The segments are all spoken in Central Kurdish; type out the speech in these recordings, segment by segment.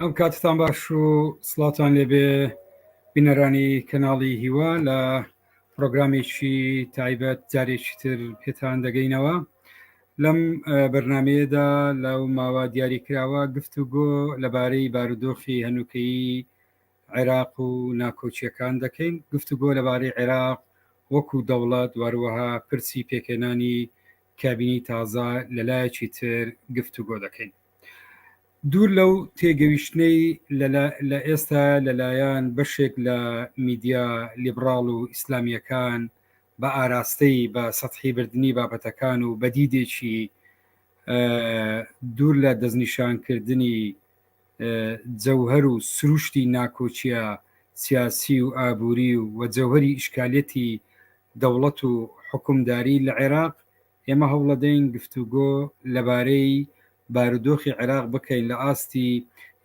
ئەم کاتتان باش و سڵاتان لێبێ بینەرانی کەناڵی هیوا لە پرۆگرامێکی تایبەت جارێکی تر پێتان دەگەینەوە لەم بەرنمەیەدا لەو ماوە دیاری کراوە گفت و گۆ لەبارەی بارودۆخی هەنووکەیی عێراق و ناکۆچیەکان دەکەین گفت و گۆ لەبارەی عێراق وەکو دەوڵات واروەها پرسی پێکێنانی کابینی تازە لەلایەکی تر گفت و گۆ دەکەین دوور لەو تێگەویشتنەی لە ئێستا لەلایەن بەشێک لە میدیا لیبڕاڵ و ئیسلامیەکان بە ئاراستەی بە سەحی بردننی بابەتەکان و بەدیدێکی دوور لە دەستنیشانکردنی جەوهر و سروشتی ناکۆچیە سیاسی و ئابووری و وەجەوهری ئیشکالەتی دەوڵەت و حکومداری لە عێراق ئێمە هەوڵەدەین گفتوگۆ لەبارەی بارودۆخی عێراق بکەین لە ئاستی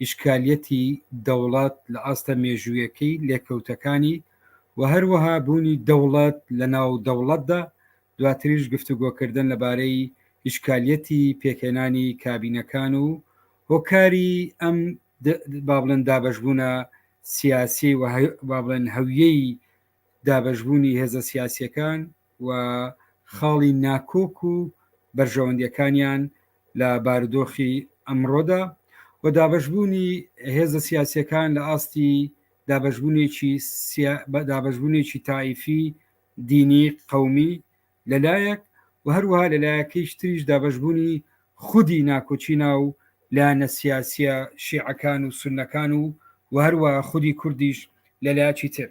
ئیشکالیەتی دەوڵەت لە ئاستە مێژوویەکەی لێکەوتەکانی و هەروەها بوونی دەوڵەت لە ناو دەوڵەتدا دواتریش گفتوگۆکردن لەبارەی ئیشکالیەتی پێکهێنانی کابینەکان و هۆکاری ئەم بابلن دابشبوونە سیاسی و بابلن هەویەی دابەشبوونی هێزە سیاسیەکان و خاڵی ناکۆک و بەرژەوەندیەکانیان لە بارودۆخی ئەمڕۆدا و دابەشبوونی هێزە سیاسیەکان لە ئاستی دابەشبوونێکی دابەشبوونێکی تایفی دینی قومی لە لایەک و هەروەها لە لایەکەیش تریش دابەشبوونی خودی ناکۆکی ناو لایەنە سیاسییە شیعەکان و سوننەکان و و هەروەها خودی کوردیش لە لایەکی تر.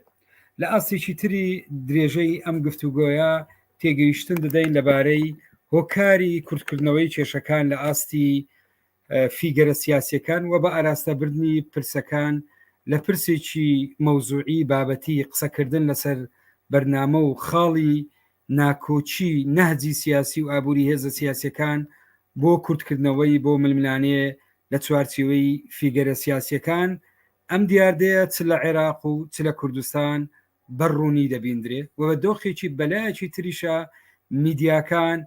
لە ئاستێکی تری درێژەی ئەم گفتوگۆیە تێگەیشتن دەدەین لەبارەی هۆکاری کورتکردنەوەی کێشەکان لە ئاستی فیگەرە سیاسەکان و بە ئاراستەبردنی پرسەکان لە پرسێکی مەوزوعی بابەتی قسەکردن لەسەر بەرنامە و خاڵی ناکۆچی نەهجی سیاسی و ئابووری هێزە سیاسەکان بۆ کورتکردنەوەی بۆ ململانێ لە چوارچیوەی فیگەرە سیاسەکان ئەم دیاردەیە چ لە عێراق و چ لە کوردستان بەڕوونی دەبیندرێ و بە دۆخێکی بەلایەکی تریشە میدیاکان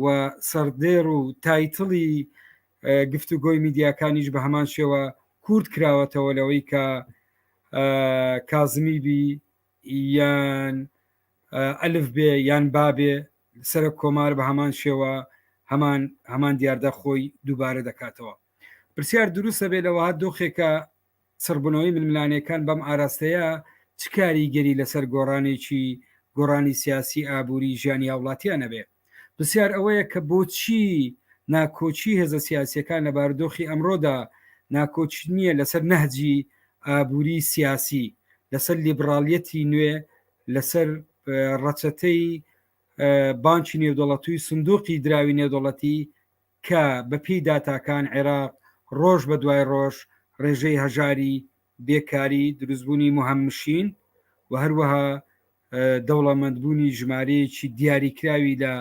و سەردێر و تایتڵی گفتوگۆی میدیاکانیش بە هەمان شێوە کورد کراوەتەوە لەوەی کە کازمی بی یان ئەلف بێ یان بابێ سەرک کۆمار بە هەمان شێوە هەمان هەمان دیاردە خۆی دووبارە دەکاتەوە پرسیار دروستە بێ لەوە دۆخێکە چڕبوونەوەی ململانێکان بەم ئاراستەیە چ کاریگەری لەسەر گۆڕانێکی گۆڕانی سیاسی ئابووری ژیانی هاوڵاتیان ئەبێ؟ پرسیار ئەوەیە کە بۆچی ناکۆکی هێزە سیاسیەکان لە بارودۆخی ئەمڕۆدا ناکۆک نیە لەسەر نەهجی ئابووری سیاسی، لەسەر لیبڕالیەتی نوێ، لەسەر ڕەچەتەی بانکی نێودەوڵەتوی سندوقی دراوی نێودەوڵەتی، کە بە پێی داتاکان عێراق ڕۆژ بە دوای ڕۆژ ڕێژەی هەژاری، بێکاری، دروستبوونی مهمشین و هەروەها دەوڵەمەندبوونی ژمارەیەکی دیاریکراوی لە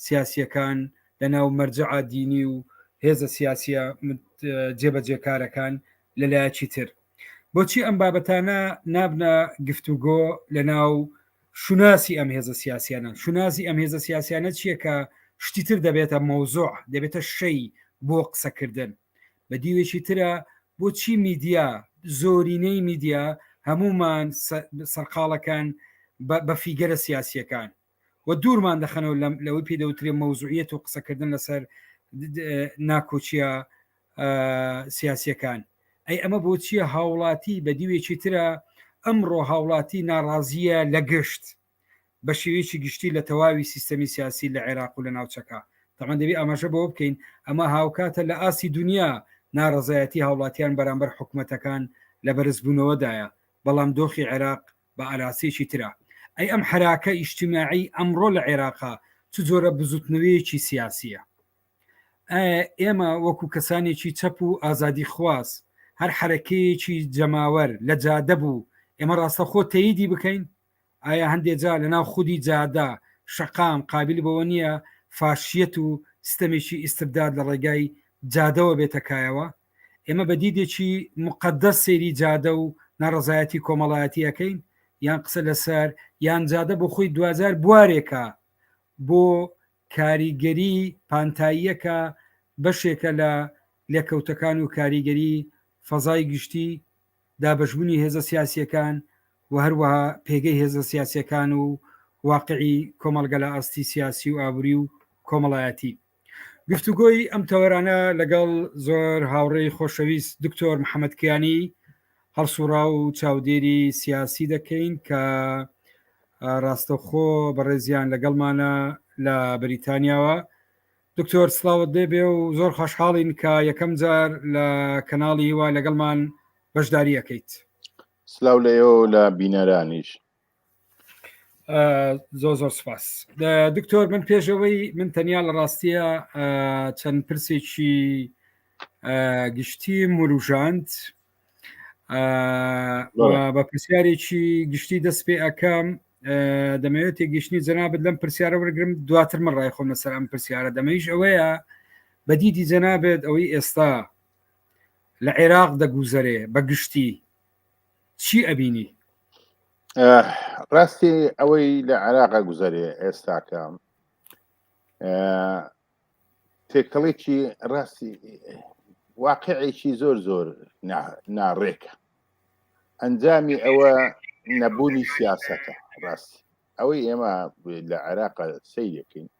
سیاسییەکان لە ناو مەرجەعە دینی و هێزە سیاسییە جێبەجێکارەکان لە لایەکی تر. بۆچی ئەم بابەتانە نابنە گفتوگۆ لە ناو شوناسی ئەم هێزە سیاسیانە شوناسی ئەم هێزە سیاسیانە چییە کە شتی تر دەبێتە مەوزۆع دەبێتە شەی بۆ قسەکردن بە دیوێکی ترە بۆچی میدیا زۆرینەی میدیا هەمومان سەرقاڵەکان بە فیگەرە سیاسیەکان و دوورمان دەخەنەوە لەوەی پێدەوترێ مەوزوعیت و قسەکردن لەسەر ناکۆچیە سیاسەکان ئەی ئەمە بۆچیە هاوڵاتی بە دیوێکی ترە ئەمڕۆ هاوڵاتی ناڕازیە لە گشت بە شێوەیەکی گشتی لە تەواوی سیستەمی سیاسی لە عێراق و لە ناوچەکە تەمان دەبی ئاماژە بۆ بکەین ئەمە هاوکاتە لە ئاسی دنیا ناڕزایەتی هاوڵاتیان بەرامبەر حکوومەتەکان لە بەرزبوونەوەدایە بەڵام دۆخی عێراق بە ئاراسێکی ترە ئەی ئەم حراکە ئیشتیماعی ئەمڕۆ لە عێراقا چ جۆرە بزوتنەوەیەکی سیاسیە ئێمە وەکو کەسانێکی چەپ و ئازادی خواز هەر حرەکەیەکی جەماوەر لە جادە بوو ئێمە ڕاستە خۆ تەیدی بکەین ئایا هەندێک جا لە ناو خودی جادا شەقام قابل بەوە نییە فاشیەت و ستەمێکی ئیسبداد لە ڕێگای جادەوە بێتە کایەوە ئێمە بە دیدێکی مقدەس سێری جادە و ناڕزایەتی کۆمەڵایەتیەکەین یان قسە لەسەر یان جادە بۆ خۆی دوزار بوارێکە بۆ کاریگەری پانتاییەکە بەشێکە لە لێکەوتەکان و کاریگەری فەزای گشتی، دابەشبونی هێزە سیاسیەکان و هەروەها پێگەی هێزە سیاسیەکان و واقعی کۆمەڵگە لە ئاستی سیاسی و ئابوری و کۆمەڵایەتی. گفتوگۆی ئەم تەوەرانە لەگەڵ زۆر هاوڕێی خۆشەویست دکتۆر محەمەد کیانی هەڵسوڕاو و چاودێری سیاسی دەکەین کە ڕاستەخۆ بەڕێزیان لەگەڵمانە لە بریتانیاوە دکتۆر سلااوت دەبێ و زۆر خۆشحاڵین کە یەکەم جار لە کەناڵی هیوا لەگەڵمان بەشداریەکەیت سلااو لە ئێوە لە بینەرانیش زۆ زۆر سپاس دکتۆر من پێشەوەی من تەنیا لە ڕاستیە چەند پرسێکی گشتی مروژاند بە پرسیارێکی گشتی دەست پێ ئەەکەم دەمەوێت تێگەشتنی جەنابەت لەم پرسیارە وەرگرم دواتر من ڕای خۆم لەسەر ئەم پرسیارە دەمەیش ئەوەیە بەدیدی جەنابێت ئەوەی ئێستا لە عێراق دەگوزەرێ بە گشتی چی ئەبینی ڕاستی ئەوەی لە عراقا گوزارێ ئێستاکە تێکەڵێکی ڕاستی واقعێکی زۆر زۆر ناڕێکە ئەنجامی ئەوە نەبوونی سیاسەتە ڕاستی ئەوەی ئێمە لە عێراق سیرەکەین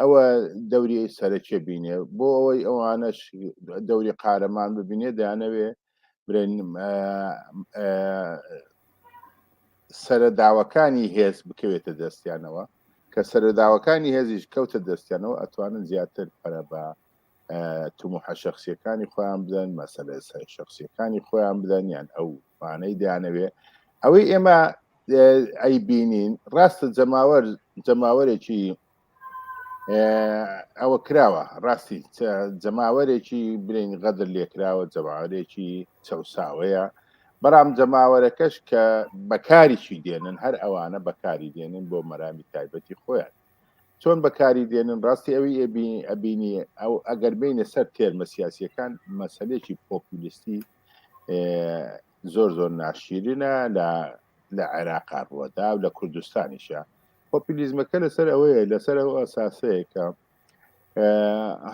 ئەوە دەوری سەرەکیە بینێ بۆ ئەوەی ئەوانەش دەوری قارەمان ببینێ دانەوێ برێن سەرەداوەکانی هێز بکەوێتە دەستیانەوە کە سەرەداوەکانی هێزیش کەوتە دەستیانەوە ئەتوانن زیاتر پەرە بە تموحە شخصیەکانی خۆیان بدەن مەسەلە شخصیەکانی خۆیان بدەن یان ئەو مانەی دانەوێ ئەوەی ئێمە ئەی بینین ڕاستە جەماوەر جەماوەرێکی ئەوە کراوە ڕاستی جەماوەرێکی برین غەدر لێکراوە جەماوەرێکی چەساوەیە بەڵام جەماوەرەکەش کە بەکاریشی دێنن هەر ئەوانە بەکاری دێنن بۆ مەرامی تایبەتی خۆیان چۆن بەکاری دێنن ڕاستی ئەوی ئەبینی ئەو ئەگەر بینە سەر تێرمە سیاسیەکان مەسلێکی پۆپولیستی زۆر زۆر ناشیرنە لە لە عێراقا ڕوەدا و لە کوردستانیشە پۆپولیزمەکە لەسەر ئەوەیە لەسەر ئەو ئەساسەیە کە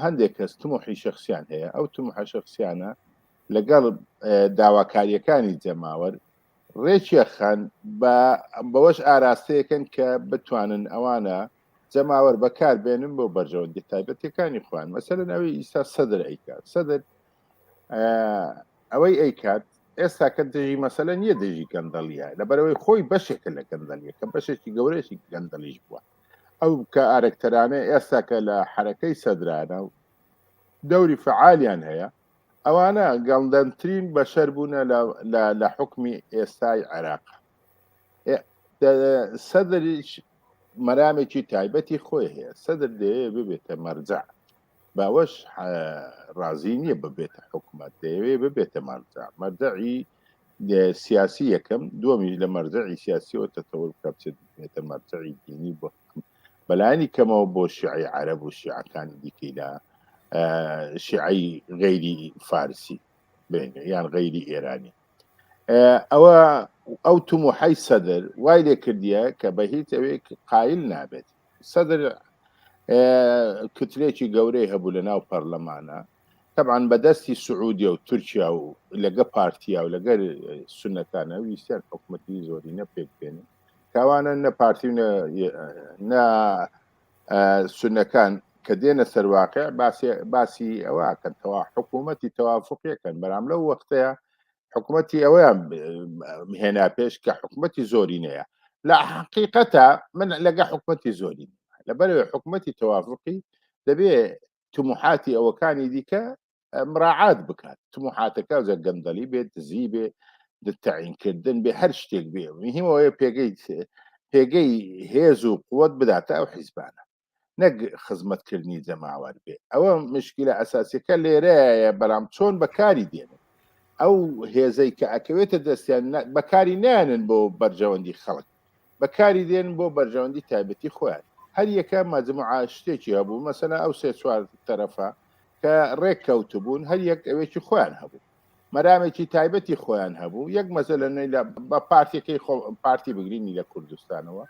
هەندێک کەس تمۆحی شخصیان هەیە ئەو تمحە شخصیانە لەگەڵ داواکاریەکانی جەماوەر رێکیە خەن بە بەوەش ئاراستەیەکەن کە بتوانن ئەوانە جەماوەر بەکار بێنن بۆ بەرژەوەندی تایبەتەکانی خوان مەسەرن ئەوەی ئیستا سەدر ئەیکات سەدر ئەوەی ئەیکات ئێستا کە دژی مەسەلە نیە دژی گەندەڵیە لەبەرەوەی خۆی بەشێکە لە گەندەلیە کە بەشێکی گەورەشی گەندەلیش بووە ئەو کە ئارەکتەرانە ئێستا کە لە حرەکەی سەدرانە و دەوری فعالیان هەیە ئەوانە گەڵدەنترین بەشەر بوونە لە حکمی ئێستای عێراق سەدرش مەرامێکی تایبەتی خۆی هەیە سەدر دەیە ببێتە مەرجە باوەش ڕازی نییە ببێتە حکومت دەیەوێ ببێتە مەرجە مەردەعی سیاسی یەکەم دومی لە مەرجەعی سیاسیەوە تەتەوە بکە بچێت بێتە مەرجەعی دینی بۆ بەلایەنی کەمەوە بۆ شیعەی عەرەب و شیعەکانی دیکەی لە شیعەی غەیری فارسی بێنێ یان غەیری ئێرانی ئەوە ئەو تموحی سەدر وای لێ کردیە کە بە هیچ ئەوێ قایل نابێت سەدر کترێکی گەورەی هەبوو لە ناو پەرلەمانە طبعاً بەدەستی سعودیە و تورکیا و لەگە پارتیا و لەگەر سنەکانە ویستیان حکوومەتی زۆرینە پێک بێنن تاوانە نە پارتی و نە نە سنەکان کە دێنە سەرواقع باسی ئەوەکەن تەوا حکوومەتی تەوافقیەکەن بەرام لەو وەختەیە حکوومەتی ئەوەیان هێنا پێش کە حکوومەتی زۆری نەیە لە حقیقەتە من لەگە حکوومەتی زۆری لەبەر حکوومەتی تەوافقی دەبێ تموحاتی ئەوەکانی دیکە مراعات بکات تموحاتەکە جە گەندەلی بێت دزی بێ تعینکردن بێ هەر شتێک بێ مهمەوەیە پێگەی پێگەی هێز و قوت بداتە ئەو حیزبانە نەک خزمەتکردنی جەماوەر بێ ئەوە مشکلە ئەساسیەکە لێرەیە بەرام چۆن بەکاری دێنن ئەو هێزەی کە ئەکەوێتە دەستیان بەکاری نیانن بۆ بەرژەوەندی خەڵک بەکاری دێن بۆ بەرژەوەندی تایبەتی خۆیان هەر یەکە مەجموعە شتێکی هەبوو مەسەلا ئەو سێ چوار تەرەفە کە ڕێک کەوتبوون هەر یەک ئەوێکی خۆیان هەبوو مەرامێکی تایبەتی خۆیان هەبوو یەک مەزە لە نوێی لە بە پارتەکەی خۆ پارتی بگرینی لە کوردستانەوە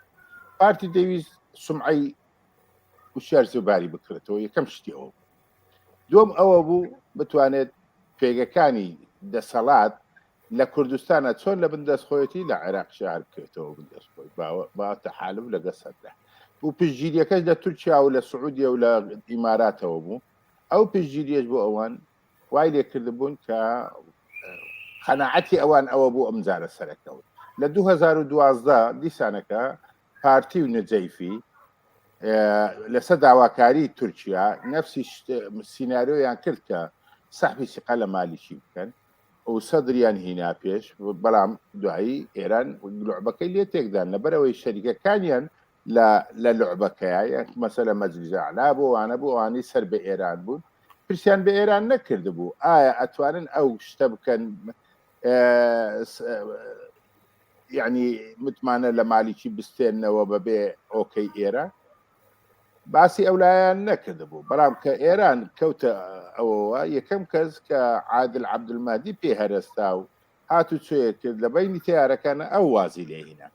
پارتی دەویست سمعی وشار زباری بکرێتەوە یەکەم شتیەوە دوم ئەوە بوو بتوانێت پێگەکانی دەسەڵات لە کوردستانە چۆن لە بن دەست خۆیەتی لە عێراق شار بکەێتەوە بن دەست خۆی باوەتە حالف لە گەسەردا و پشگیریەکەش لە تورکیا و لە سعودیە و لە ئیماراتەوە بوو ئەو پێگیریش بۆ ئەوان وای لێکرد بوون کە قەنەعەتی ئەوان ئەوە بوو ئەم جارە سەرەکەوت لە 2012 دیسانەکە پارتی و نجەیفی لەسەر داواکاری تورکیا نفسی سینناریۆیان کرد کە سەحبی سیقا لە مالیکی بکەن و سەدریان هینا پێش بەڵام دوایی ئێران لعبەکەی لێ تێکدان لەبەرەوەی شەریکەکانیان لە لعبەکەیە یەک مەسەلە مەجلیزەعلا بۆ وانە بۆ ئەوانەی سەر بە ئێران بوون پرسیان بە ئێران نەکرد بوو ئایا ئەتوانن ئەو شتە بکەن یعنی متمانە لە مالیکی بستێنەوە بەبێ ئۆکەی ئێرە باسی ئەو لایەن نەکردبوو بەڵام کە ئێران کەوتە ئەوەوە یەکەم کەس کە عادل عبدمادی پێ هەرستا و هات و چێ کرد لە بینی تیارەکانە ئەو وازی لێهینە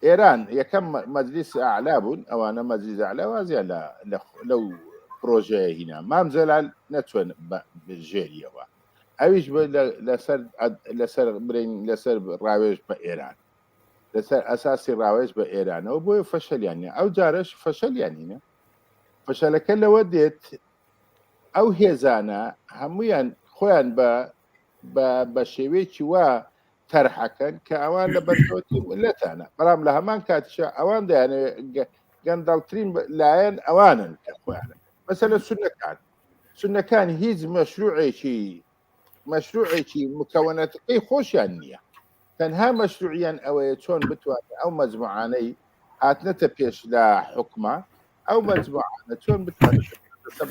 ئێران یەکەم مەجلیس ئالا بوون ئەوانە مەجلیز ئالا وازیان لەو پرۆژەیە هینا مام جەلال نەچوێن ژێریەوە ئەویش لەسەر لەسەر برین لەسەر ڕاوێژ بە ئێران لەسەر ئەساسی ڕاوێژ بە ئێرانەوە بۆیە فەشەلیان نیە ئەو جارەش فەشەلیان نینە فەشەلەکە لەوە دێت ئەو هێزانە هەمویان خۆیان بە بە شێوەیەکی وا تەرحەکەن کە ئەوان لە بەرکەوتی لەتانە بەڵام لە هەمان کاتیشە ئەوان دەیانەوێت گەندەڵترین لایەن ئەوانن کە خۆیانە مەسەلە سونەکان سونەکان هیچ مەشروعێکی مەشروعێکی مکەونەتەکەی خۆشیان نییە تەنها مەشروعیان ئەوەیە چۆن بتوانێت ئەو مەجموعانەی هاتنەتە پێش لە حکومە ئەو مەجموعانە چۆن بتوانێت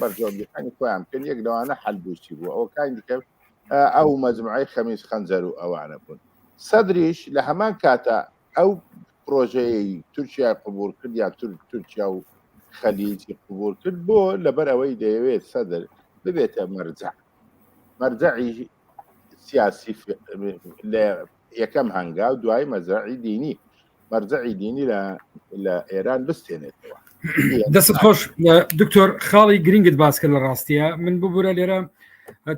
بەرجۆندەکانی خۆیان بکەن یەک لەوانە حلبوسی بوو ئەو کاین دیکە ئەو مەجموعی خەمیز خەنجەر و ئەوانە بوون سەدریش لە هەمان کاتە ئەو پرۆژەیە تورکیا قبول کرد یا تورکیا و خەلیجی قبول کرد بۆ لەبەر ئەوەی دەیەوێت سەدر ببێتە مەرجە مەرجعی سیاسی لە یەکەم هەنگا و دوای مەزرعی دینی مەرجعی دینی لە ئێران بستێنێتەوە دەست خۆش دکتۆر خاڵی گرنگت باسکە لە ڕاستیە من ببوورە لێرە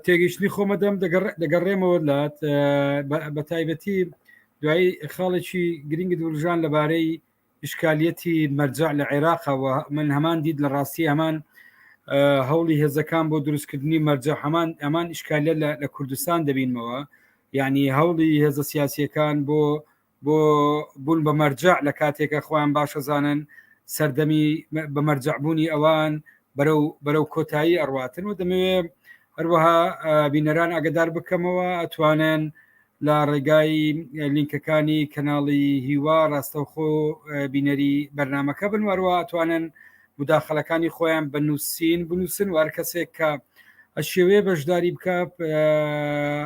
تێگەیشتنی خۆمە دەم دەگەڕێمەوە لات بە تایبەتی دوایی خاڵێکی گرنگی دورژان لەبارەی ئیشکالیەتی مەرجەع لە عێراقەوە من هەمان دیت لە ڕاستی هەمان هەوڵی هێزەکان بۆ دروستکردنی مەرجە هەمان ئەمان ئیشکالیە لە کوردستان دەبینمەوە یعنی هەوڵی هێزە سیاسیەکان بۆ بۆ بوون بە مەرجە لە کاتێکە خۆیان باشەزانن سەردەمی بە مەرجەعبوونی ئەوان بەرەو بەرەو کۆتایی ئەڕاتن و دەمەوێ هەروەها بینەران ئەگەدار بکەمەوە ئەتوانن لە ڕێگای لینکەکانی کەناڵی هیوا ڕاستەوخۆ بینەری بەرنمەکە بن وەروە توانن مداخلەکانی خۆیان بە نووسین بنووسن وار کەسێک کە ئەشێوێ بەشداری بکە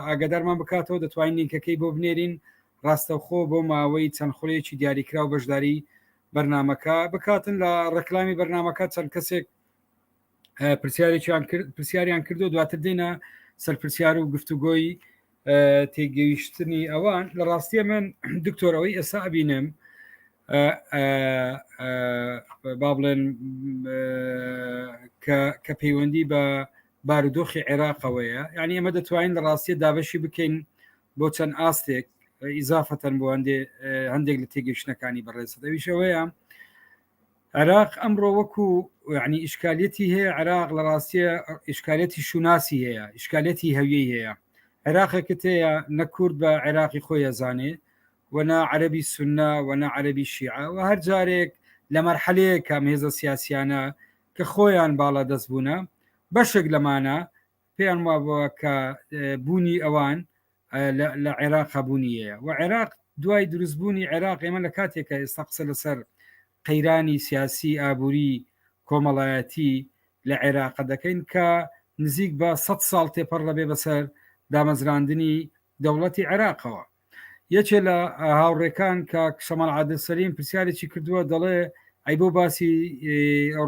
ئاگدارمان بکاتەوە دەتوانین لینکەکەی بۆ بنێرین ڕاستەوخۆ بۆ ماوەی چەند خولێکی دیاریکراو بەشداری بەرنمەکە بکاتن لە ڕکلامی بەرنمەکە چەند کەسێک پرسیارێکیان کرد پرسیاریان کردو دواتر دێنە سەرپرسیار و گفتوگۆی تێگەیشتنی ئەوان لە ڕاستیە من دکتۆرەوەی ئێستا ئەبینم با بڵێن کە پەیوەندی بە بارودۆخی عێراقەوەیە ینی ئەمە دەتوانین لە ڕاستیە دابەشی بکەین بۆ چەند ئاستێک ئیزافەتەن بۆ هەندێ هەندێک لە تێگەشتەکانی بەڕێزەویشەوەیە عێراق ئەمڕۆ وەکو یعنی ئیشکالەتی هەیە عێراق لە ڕاستیە ئیشکالەتی شوناسی هەیە ئیشکالەتی هەویەی هەیە عێراقێکت هەیە نە کورد بە عێراقی خۆی ئەزانێ وەنا عەربی سنە وەنا عەربی شیعە و هەر جارێک لە مەرحەلەیە کام هێزە سیاسیانە کە خۆیان باڵا دەست بوونە بەشێک لەمانە پێیان وابووە کە بوونی ئەوان لە عێراق هەبوونی هەیە و عێراق دوای دروستبوونی عێراق ئێمە لە کاتێکە ئێستا قسە لەسەر قەیرانی سیاسی ئابووری کۆمەڵایەتی لە عێراق دەکەین کە نزیک بە 100 ساڵ تێپەڕ دەبێ بەسەر دامەزراندنی دەوڵەتی عێراقەوە یەکێ لە هاوڕێکان کە کشەمەڵ عادل سەریم پرسیارێکی کردووە دەڵێ ئەی بۆ باسی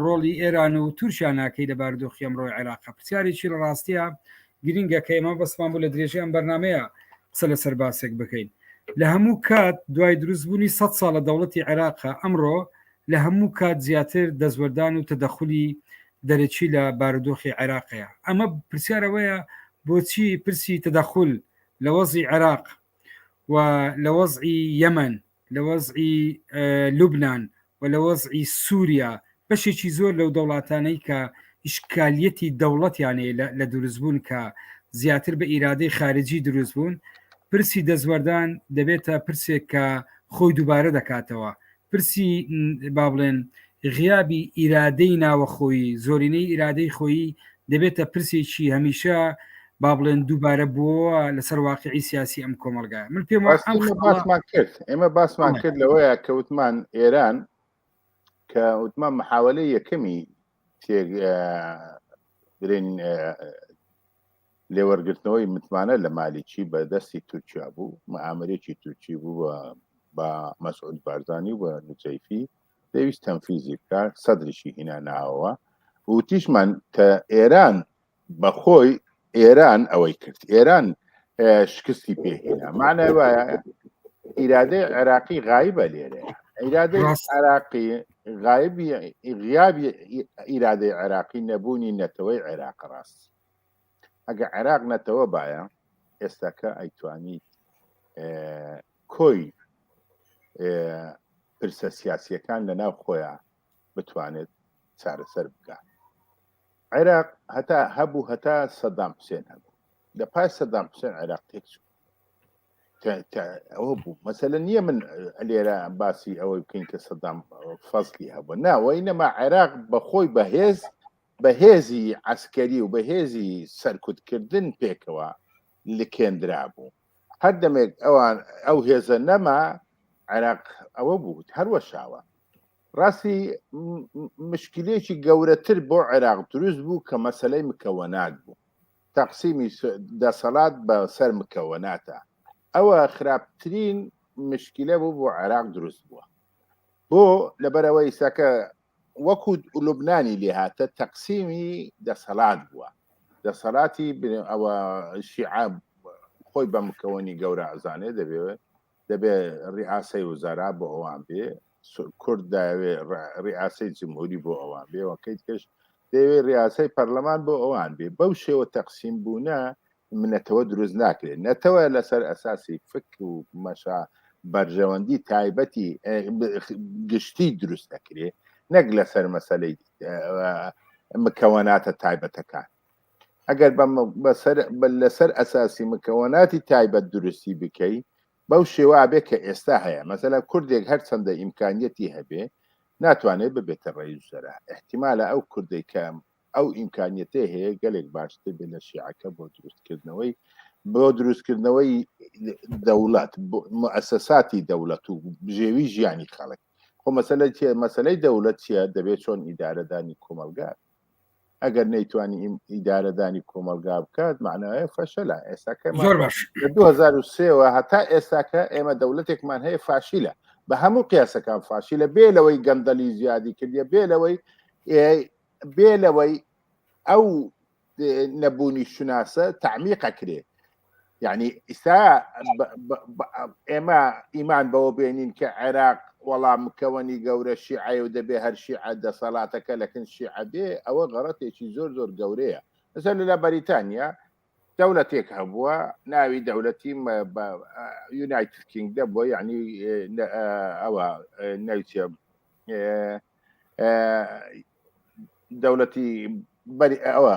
ڕۆڵی ئێران و تورکیا ناکەی لە باردۆخی ئەمڕۆی عێراق پرسیارێکی لە ڕاستیە گرینگە کە ئێمە بەسمان بوو لە درێژەی ئەم بەرنامەیە قسە لەسەر باسێک بکەین لە هەموو کات دوای دروستبوونی سەد ساڵە دەوڵەتی عێراقە ئەمڕۆ لە هەموو کات زیاتر دەستوەردان و تەدەخلی دەرەکی لە بارودۆخی عێراقەیە ئەمە پرسیارەوەیە بۆچی پرسی تەدەخل لە وەزی عێراق و لە وەزی یەمەن لە وەزعی لوبناان و لە وەزعی سووریا بەشێکی زۆر لەو دەوڵاتانەی کە ئیشکالیەتی دەوڵەتیانەیە لە دروستبوون کە زیاتر بە ئیرادەی خارجی دروست بوون پرسی دەستوەردان دەبێتە پرسێک کە خۆی دووبارە دەکاتەوە پرسی با بڵێن غیابی ئیرادەی ناوەخۆی زۆرینەی ئیرادەی خۆی دەبێتە پرسێکی هەمیشە با بڵێن دووبارە بووە لەسەر واقعی سیاسی ئەم کۆمەلگای من پێم باسمان کرد ئێمە باسمان کرد لەوەیە کەوتمان ئێران کە وتمان محاولە یەکەمی تێک برین لێوەرگرتنەوەی متمانە لە مالیکی بە دەستی تورکیا بوو مەعامرێکی تورکی بوو بە مەسعود بارزانانی و بە نوچەیفی دەویست تەنفیزی بکە سەدرشی هینا ناوەوە وتیشمان کە ئێران بەخۆی ئێران ئەوەی کرد ئێران شکستی پێهێنا مانای وایە ئیرادەی عێراقی غایبە لێرە ئیرادەی عراقی غایبی غیابی ئیرادەی عێراقی نەبوونی نەتەوەی عێراق ڕاست ئەگە عێراق نەتەوە باە ئێستاکە ئەیتوانیت کۆی پرسە سیاسیەکان لە ناو خۆیان بتوانێت چارەسەر بکات عێراق هەتا هەبوو هەتا سەدام حوسێن هەبوو لە پاش سەدام حوسێن عێراق تێک چوو ئەوە بوو مەسەلە نییە من لێرە باسی ئەوەی بکەین کە سەدام فەزلی هەبوو ناوەی نەما عێراق بەخۆی بەهێز بەهێزی ئەسکەری و بەهێزی سەرکوتکردن پێکەوە لکێندرا بوو هەر دەمێک ئەوان ئەو هێزە نەما عێراق ئەوە بوو هەروەشاوە ڕاستی مشکلێکی گەورەتر بۆ عێراق دروست بوو کە مەسلەی مکەوەنات بوو تەقسیمی دەسەڵات بە سەر مکەوەناتە ئەوە خراپترین مشکلە بوو بۆ عێراق دروست بووە بۆ لەبەرەوە ئیساکە وەکو لوبنانی لێهاتە تەقسیمی دەسەڵات بووە دەسەڵاتی ئەوە شیعاب خۆی بە مکەوەنی گەورە ئەزانێ دەبێت دەبێت ڕیاسەی وزارا بۆ ئەوان بێ کورد داوێ ڕیاسەی جمهوری بۆ ئەوان بێ وەکەیت کەش دەوێ ڕاستەی پەرلەمان بۆ ئەوان بێ بەو شێوە تەقسیم بوونە منەتەوە دروست ناکرێت نەتەوە لەسەر ئەساسی فک و مەشا بەرژەوەندی تایبەتی گشتی دروست دەکرێ نەک لەسەر مەسلەی مکەوەناتە تایبەتەکان ئەگەر لەسەر ئەساسی مکەوەناتی تایبەت دروستی بکەی بەو شێوە ئابێ کە ئێستا هەیە، مەسەلەن کوردێک هەر چەندە ئیمکانیەتی هەبێ ناتوانێ ببێتە ڕەئیسوزەرا، ئیحتیمالە ئەو کوردەی کە ئەو ئیمکانیەتەی هەیە گەلێک باشتر بێ لە شیعەکە بۆ دروست کردنەوەی بۆ دروست کردنەوەی دەوڵەت موسەساتی دەوڵەت و بژێوی ژیانی خەڵک خۆ مەسەلە چیە مەسەلەی دەوڵەت چیە دەبێت چۆن ئیدارەدانی کۆمەلگات ئەگەر نەیتوانی ئیدارەدانی کۆمەلگا بکات معناە فەشەلا ئێساکە زۆر باش 2023ەوە هەتا ئێساکە ئێمە دەولەتێکمان هەیە فاشیلە بە هەموو قیاسەکان فاشی لە بێ لەوەی گەندەلی زیادی کردە بێ لەوەی بێ لەوەی ئەو نەبوونی شناسە تعمیقە کرێ یعنی ئیسا ئێمە ئیمان بەوە بێنین کە عێراق وەڵام مکەوەنی گەورە شیعە و دەبێ هەر شیعە دەسەڵاتەکە لەکن شیعە بێ ئەوە غەڕەتێکی زۆر زۆر گەورەیە لەسەر لە بەریتانیا دەولەتێک هەبووە ناوی دەولەتی یونایتد کینگ دەبووە یعنی ئەوە نەوچە دەولەتی ئەوە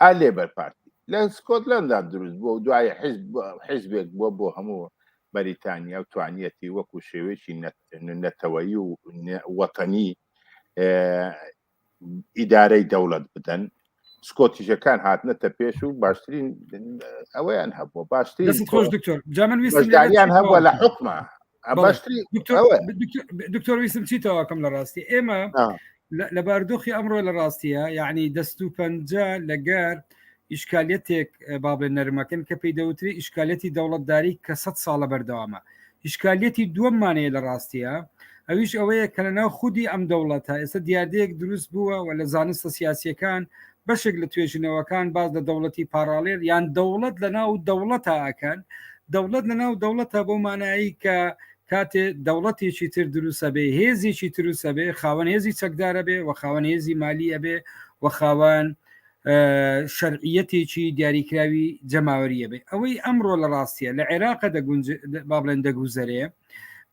ئا لێبەر پارتی لە سکۆتلەندا دروست بووە و دوایی حیزب حیزبێک بووە بۆ هەموو بەریتانیا و توانیەتی وەکوو شێوەیەکی نەتەوەیی و وەتەنی ئیدارەی دەوڵەت بدەن سکۆتیشەکان هاتنەتە پێش و باشترین ئەوەیان هەبووە باشترین جا من ویستم دانیان هەبووە لە حکمە دکتۆر ویسم چی تاواکەم لە ڕاستی ئێمە لە باردۆخی ئەمڕۆ لە ڕاستیە یعنی دەست و پەنجە لەگەر ئیشکالەتێک بابێن نەرمەکەن کە پێی دەوتری ئیشکالەتی دەوڵەتداری کە سە ساڵە بەردەوامە ئیشکالەتی دووەممانەیە لە ڕاستیە ئەویش ئەوەیە کە لەناو خودی ئەم دەوڵەتە ئێستا دیاردەیەک دروست بووە و لە زانستە سیاسیەکان بەشێک لە توێژینەوەکان باز لە دەوڵەتی پاراڵێل یان دەوڵەت لە ناو دەوڵەتە ئەکەن دەوڵەت لە ناو دەوڵەتە بۆ مانایی کە کاتێ دەوڵەتێکی تر دروسە بێ هێزیی تروسە بێ خاوەن هێزی چەکدارە بێ و خاوەن هێزی مالی ئەبێ و خاوەن شەرعیەتێکی دیاریکراوی جەماوەریە بێ ئەوەی ئەمڕۆ لە ڕاستیە لە عێراقە دەگونج با بڵێن دەگوزەرێ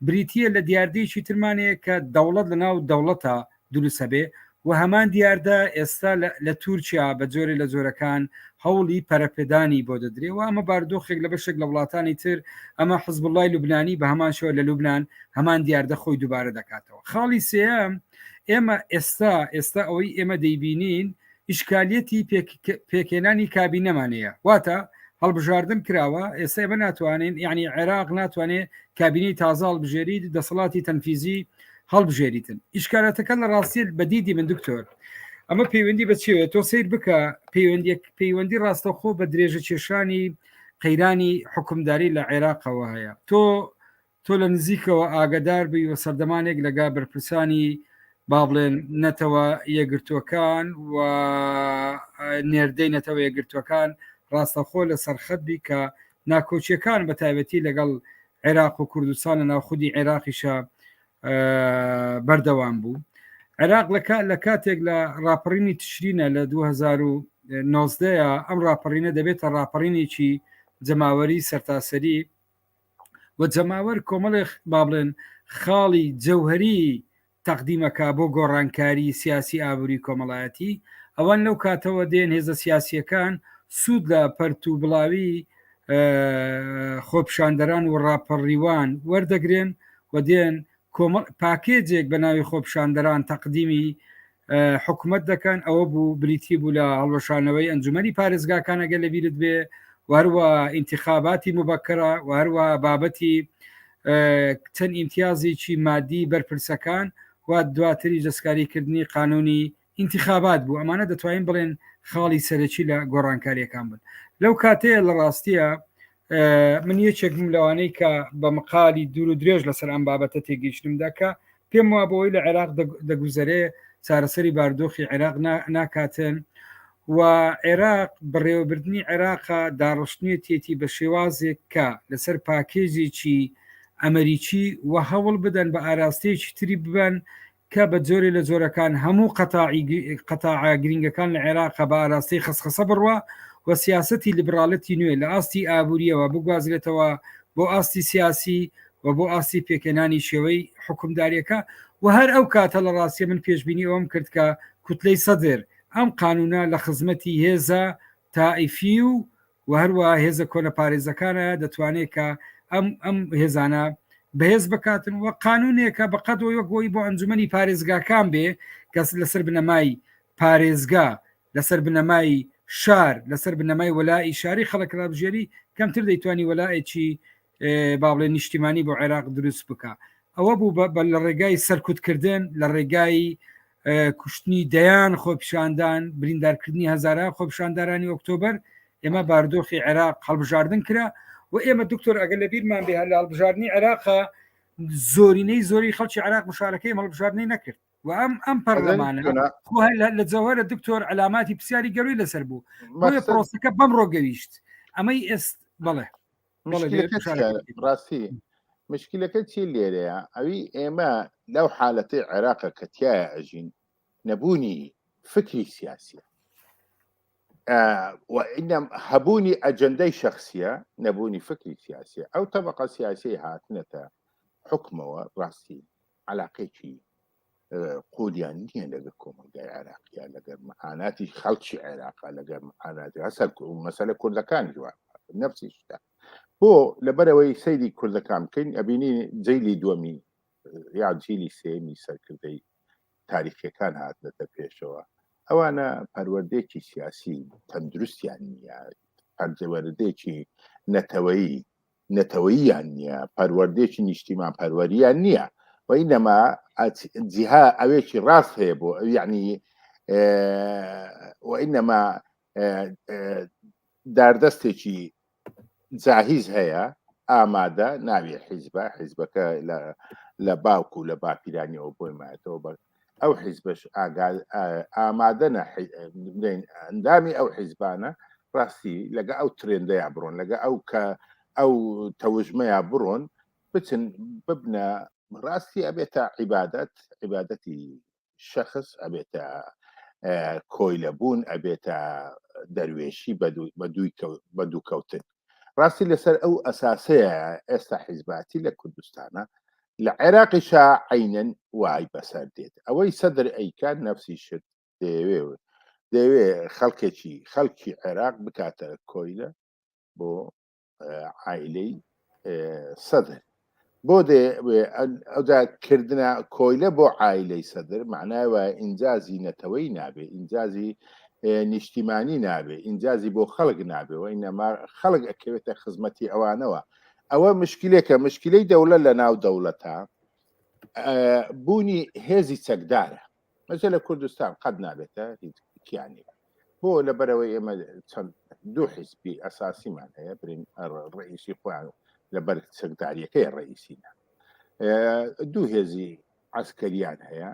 بریتە لە دیاردەیەکی ترمانەیە کە دەوڵەت لە ناو دەوڵەتە دروست هەبێ و هەمان دیاردە ئێستا لە تورکیا بە جۆرێ لە جۆرەکان هەوڵی پەرەپێدانی بۆ دەدرێ و ئەمە باردۆخێک لە بەشێک لە وڵاتانی تر ئەمە حزب اللهی لوبنانی بە هەمان شوە لە لوبناان هەمان دیاردە خۆی دووبارە دەکاتەوە خاڵی سێم ئێمە ئێستا ئێستا ئەوەی ئێمە دەیبینین ئیشکالیەتی پێکێنانی کابینەمانەیە واتە هەڵبژاردن کراوە ئێستا بە ناتوانین یعنی عێراق ناتوانێت کابینی تازاڵ بژێری دەسەڵاتی تەنفیزی هەڵبژێریتن ئیشکارەتەکە لە ڕاستیت بەدیدی من دکتۆر ئەمە پەیوەندی بە چێت تۆ سیر بکە پەیوەندی پەیوەندی ڕاستەخۆ بە درێژە کێشانی قەیرانی حکومداری لە عێراقەوە هەیە تۆ تۆ لە نزیکەوە ئاگدار بووی و سەردەمانێک لەگا بەرپرسانی با بڵێن نەتەوە یەگرتووەکان و نێردەی نەتەوە یەگرتووەکان ڕاستەخۆ لە سەرخەت بی کە ناکۆچیەکان بە تایبەتی لەگەڵ عێراق و کوردستان لە ناوخودی عێراقیشە بەردەوام بوو عێراق لە کاتێک لە ڕاپەڕینی تشرینە لە 2009 ئەم ڕاپەڕینە دەبێتە ڕاپەڕینێکی جەماوەری سەرتاسەری و جەماوەر کۆمەڵێک با بڵێن خاڵی جەوهری تەقدیمەکە بۆ گۆڕانکاری سیاسی ئابوری کۆمەڵایەتی ئەوان لەو کاتەوە دێن هێزە سیاسیەکان سوود لە پەرت و بڵاوی خۆپشاندەران و ڕاپەڕیوان وەردەگرێن و دێن پاکێجێک بە ناوی خۆپشاندەران تەقدیمی حکوومەت دەکەن ئەوە بوو بریتی بوو لە هەڵوەشانەوەی ئەنجومی پارێزگاکانەگە لە بیرت بێ وەروە ئینتخاباتی مبکرە وەروە بابەتی چەند ئیمتیازێکی مادی بەرپرسەکان و دواتری دەستکاریکردنی قانونی ئینتخابات بوو ئەمانە دەتوانین بڵێن خاڵی سەرەکی لە گۆڕانکاریەکان بن لەو کاتەیە لە ڕاستیە من یەکێکم لەوانەی کە بە مقالی دوور و درێژ لەسەر ئەم بابەتە تێگەیشتم دەکە پێم وا بەوەی لە عێراق دەگوزەرێ چارەسەری باردۆخی عێراق ناکاتن و عێراق بەڕێوەبردنی عێراقە داڕشتنێتیەتی بە شێوازێک کە لەسەر پاکێجێکی ئەمەریکی و هەوڵ بدەن بە ئاراستەیەکی تری ببن کە بە جۆرێ لە جۆرەکان هەموو قەتاعە گرنگەکان لە عێراقە بە ئاراستەی خسخەسە بڕوە و سیاستی لیبراڵەتی نوێ لە ئاستی ئابوووریەوە بگوازرێتەوە بۆ ئاستی سیاسی و بۆ ئاستی پێکەنانی شێوەی حکومداریەکە و هەر ئەو کاتە لە ڕاستیە من پێشببینی ئەوم کرد کە کوتلەی سەدر ئەم قانونە لە خزمەتی هێزە تائیفی و و هەروە هێزە کۆنە پارێزەکانە دەتوانێت کە ئەم ئەم هێزانە بەهێز بکاتن و قانونێکە بەقەت و یەکۆی بۆ ئەنجومی پارێزگاکان بێ کەس لەسەر بنەمای پارێزگا لەسەر بنەمای شار لەسەر بنەمای وەلائی شاری خەڵکرابژێری کەمتر دەیتوانی وەلایەکی باڵێ نیشتیمانی بۆ عێراق دروست بکە ئەوە بوو بە لە ڕێگای سەرکوتکردن لە ڕێگای کوشتنی دەیان خۆپیشاندان بریندارکردنی هزارە خۆپیشاندارانی ئۆکتۆبر ئێمە باردۆخی عێراق هەڵبژاردن کرا و ئێمە دکتۆر ئەگەر لە بیرمان بێ لە هەڵبژاردننی عێراقا زۆرینەی زۆری خەڵکی عراق مشارەکەی مەڵبژاردنی نەکرد و ئەم ئەم پەرلەمانە لە جەوهرە دکتۆر علاماتی پرسیاری گەروی لەسەر بوو پرۆسەکە بەم ڕۆگەویشت ئەمەی ئێست بڵێ ڕاستی مشکلەکە چی لێرەیە ئەوی ئێمە لەو حالەتی عێراقە کە تایە ئەژین نەبوونی فکری سیاسیە وئینەم هەبوونی ئەجندەی شخصیە نەبوونی فکری سیاسیە ئەو تەبقە سیاسی هاتنەتە حکمەوە ڕاستی علاقێکی قۆدیان نییە لەگە کۆمەلگای عێراقیە لەگەر معاناتی خەڵکی عێراقا لەگەر معاناتی هەسەر مەسەلە کوردەکان جوان نفسی شتا بۆ لەبەرەوەی سەیری کوردەکان بکەین ئەبینی جیلی دووەمی یا جیلی سێمی سەرکردەی تاریخەکان هاتنەتە پێشەوە ئەوانە پەروەردێکی سیاسی تەندروستیان نییە پەرجەوەردێکی نەتەوەیی نەتەوەییان نییە پەروەردێکی نیشتیمان پەروەریان نییە و ئینەما جیها ئەوێکی ڕاست هەیە بۆ ئەو یعنی و ئینەما داردەستێکی جاهیز هەیە ئامادە ناوی حیزبە حیزبەکە لە لە باوکو لە باپیرانیەوە بۆی مایەتەوە بە ئەو حیزبش ئامادەە بڵێن ئەندامی ئەو حیزبانە ڕاستی لەگە ئەو ترێندەیە بڕۆن لەگە ئەو کە ئەو تەوژمەیە بڕۆن بچن ببنە ڕاستی ئەبێتە عیبادەت عیبادەتی شخص ئەبێتە کۆیلە بوون ئەبێتە دەروێشی بە دووکەوتن ڕاستی لەسەر ئەو ئەساسەیە ئێستا حیزباتی لە کوردستانە لە عێراقی شا عینەن وای بەسەر دێت ئەوەی سەدر ئەیکات نفسی شت دەیەوێ دەوێ خەڵکێکی خەڵکی عێراق بکاتە کۆیلە بۆ عیلەی سەدر بۆ دێ ئەودا کردە کۆیلە بۆ ئایلەی سەدر معنای وایە ئینجازی نەتەوەی نابێ ئینجازی نیشتیمانی نابێ ئینجازی بۆ خەڵک نابێ و ئینەما خەڵک ئەکەوێتە خزمەتی ئەوانەوە ئەوە مشکلێکە مشکلەی دەوڵە لە ناو دەوڵەتە بوونی هێزی چەکدارە مەجە لە کوردستان قەت نابێتە هیچ کیانی بۆ لەبەرەوەی ئێمە چەند دوو حیسبی ئەساسیمان هەیە برین ڕئیسی خۆیان لەبەر چەکداریەکەی ڕئیسینە دوو هێزی عسکەریان هەیە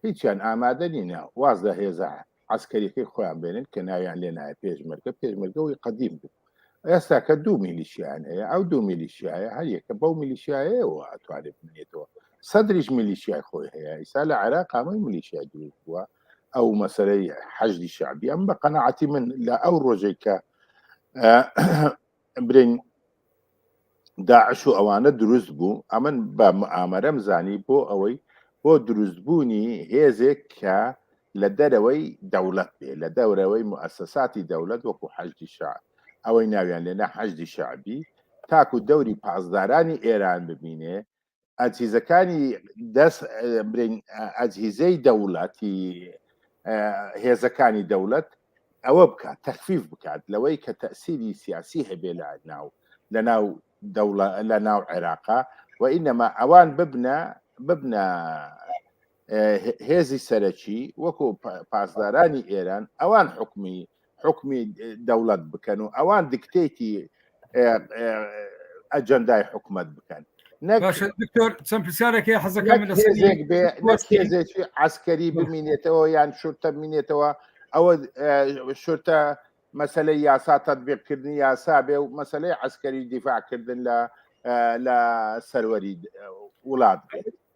هیچیان ئامادە نینە واز لە هێزە عسکەریەکەی خۆیان بێنن کە ناویان لێ نایە پێشمەرگە پێشمەرگەوەی قدیم بوو ئێستا کە دوو میلیشیان هەیە ئەو دوو میلیشیایە هەر یەکە بەو میلیشیایەوە ئەتوانێت بنێتەوە سەدریش میلیشیای خۆی هەیە ئیسا لە عێراق قامەی میلیشیا دروست بووە ئەو مەسەرەی حەجدی شعبی ئەم بە قەنەعاتی من لە ئەو ڕۆژێک کە برین داعش و ئەوانە دروست بوو ئەمن بە ئامەرەم زانی بۆ ئەوەی بۆ دروستبوونی هێزێک کە لە دەرەوەی دەوڵەت بێ لە دەورەوەی موسەساتی دەولەت وەکو حەشدی شعب ئەوەی ناویان لێنا حەشدی شعبی تاکو دەوری پاسدارانی ئێران ببینێ ئازیزەکانی دەست برین ئازیزەی دەوڵەتی هێزەکانی دەوڵەت ئەوە بکات تەخفیف بکات لەوەی کە تەسیری سیاسی هەبێ لە ناو لە ناو دەوڵە لە ناو عێراقا و ئینەما ئەوان ببنە ببنە هێزی سەرەکی وەکو پاسدارانی ئێران ئەوان حکومی حکومی دەوڵەت بکەن و ئەوان دکتێتی ئەجەندای حکومت بکەن دکتۆر چەند پرسیارەکە حەزەکەم لەێزێکی ئاسکەری بمینێتەوە یان شورتە بمینێتەوە ئەوە شورتە مەسلەی یاسا تەبیقکردنی یاسا بێ و مەسلەی ئەسکەری دیفاعکردن لە لە سەروەری وڵات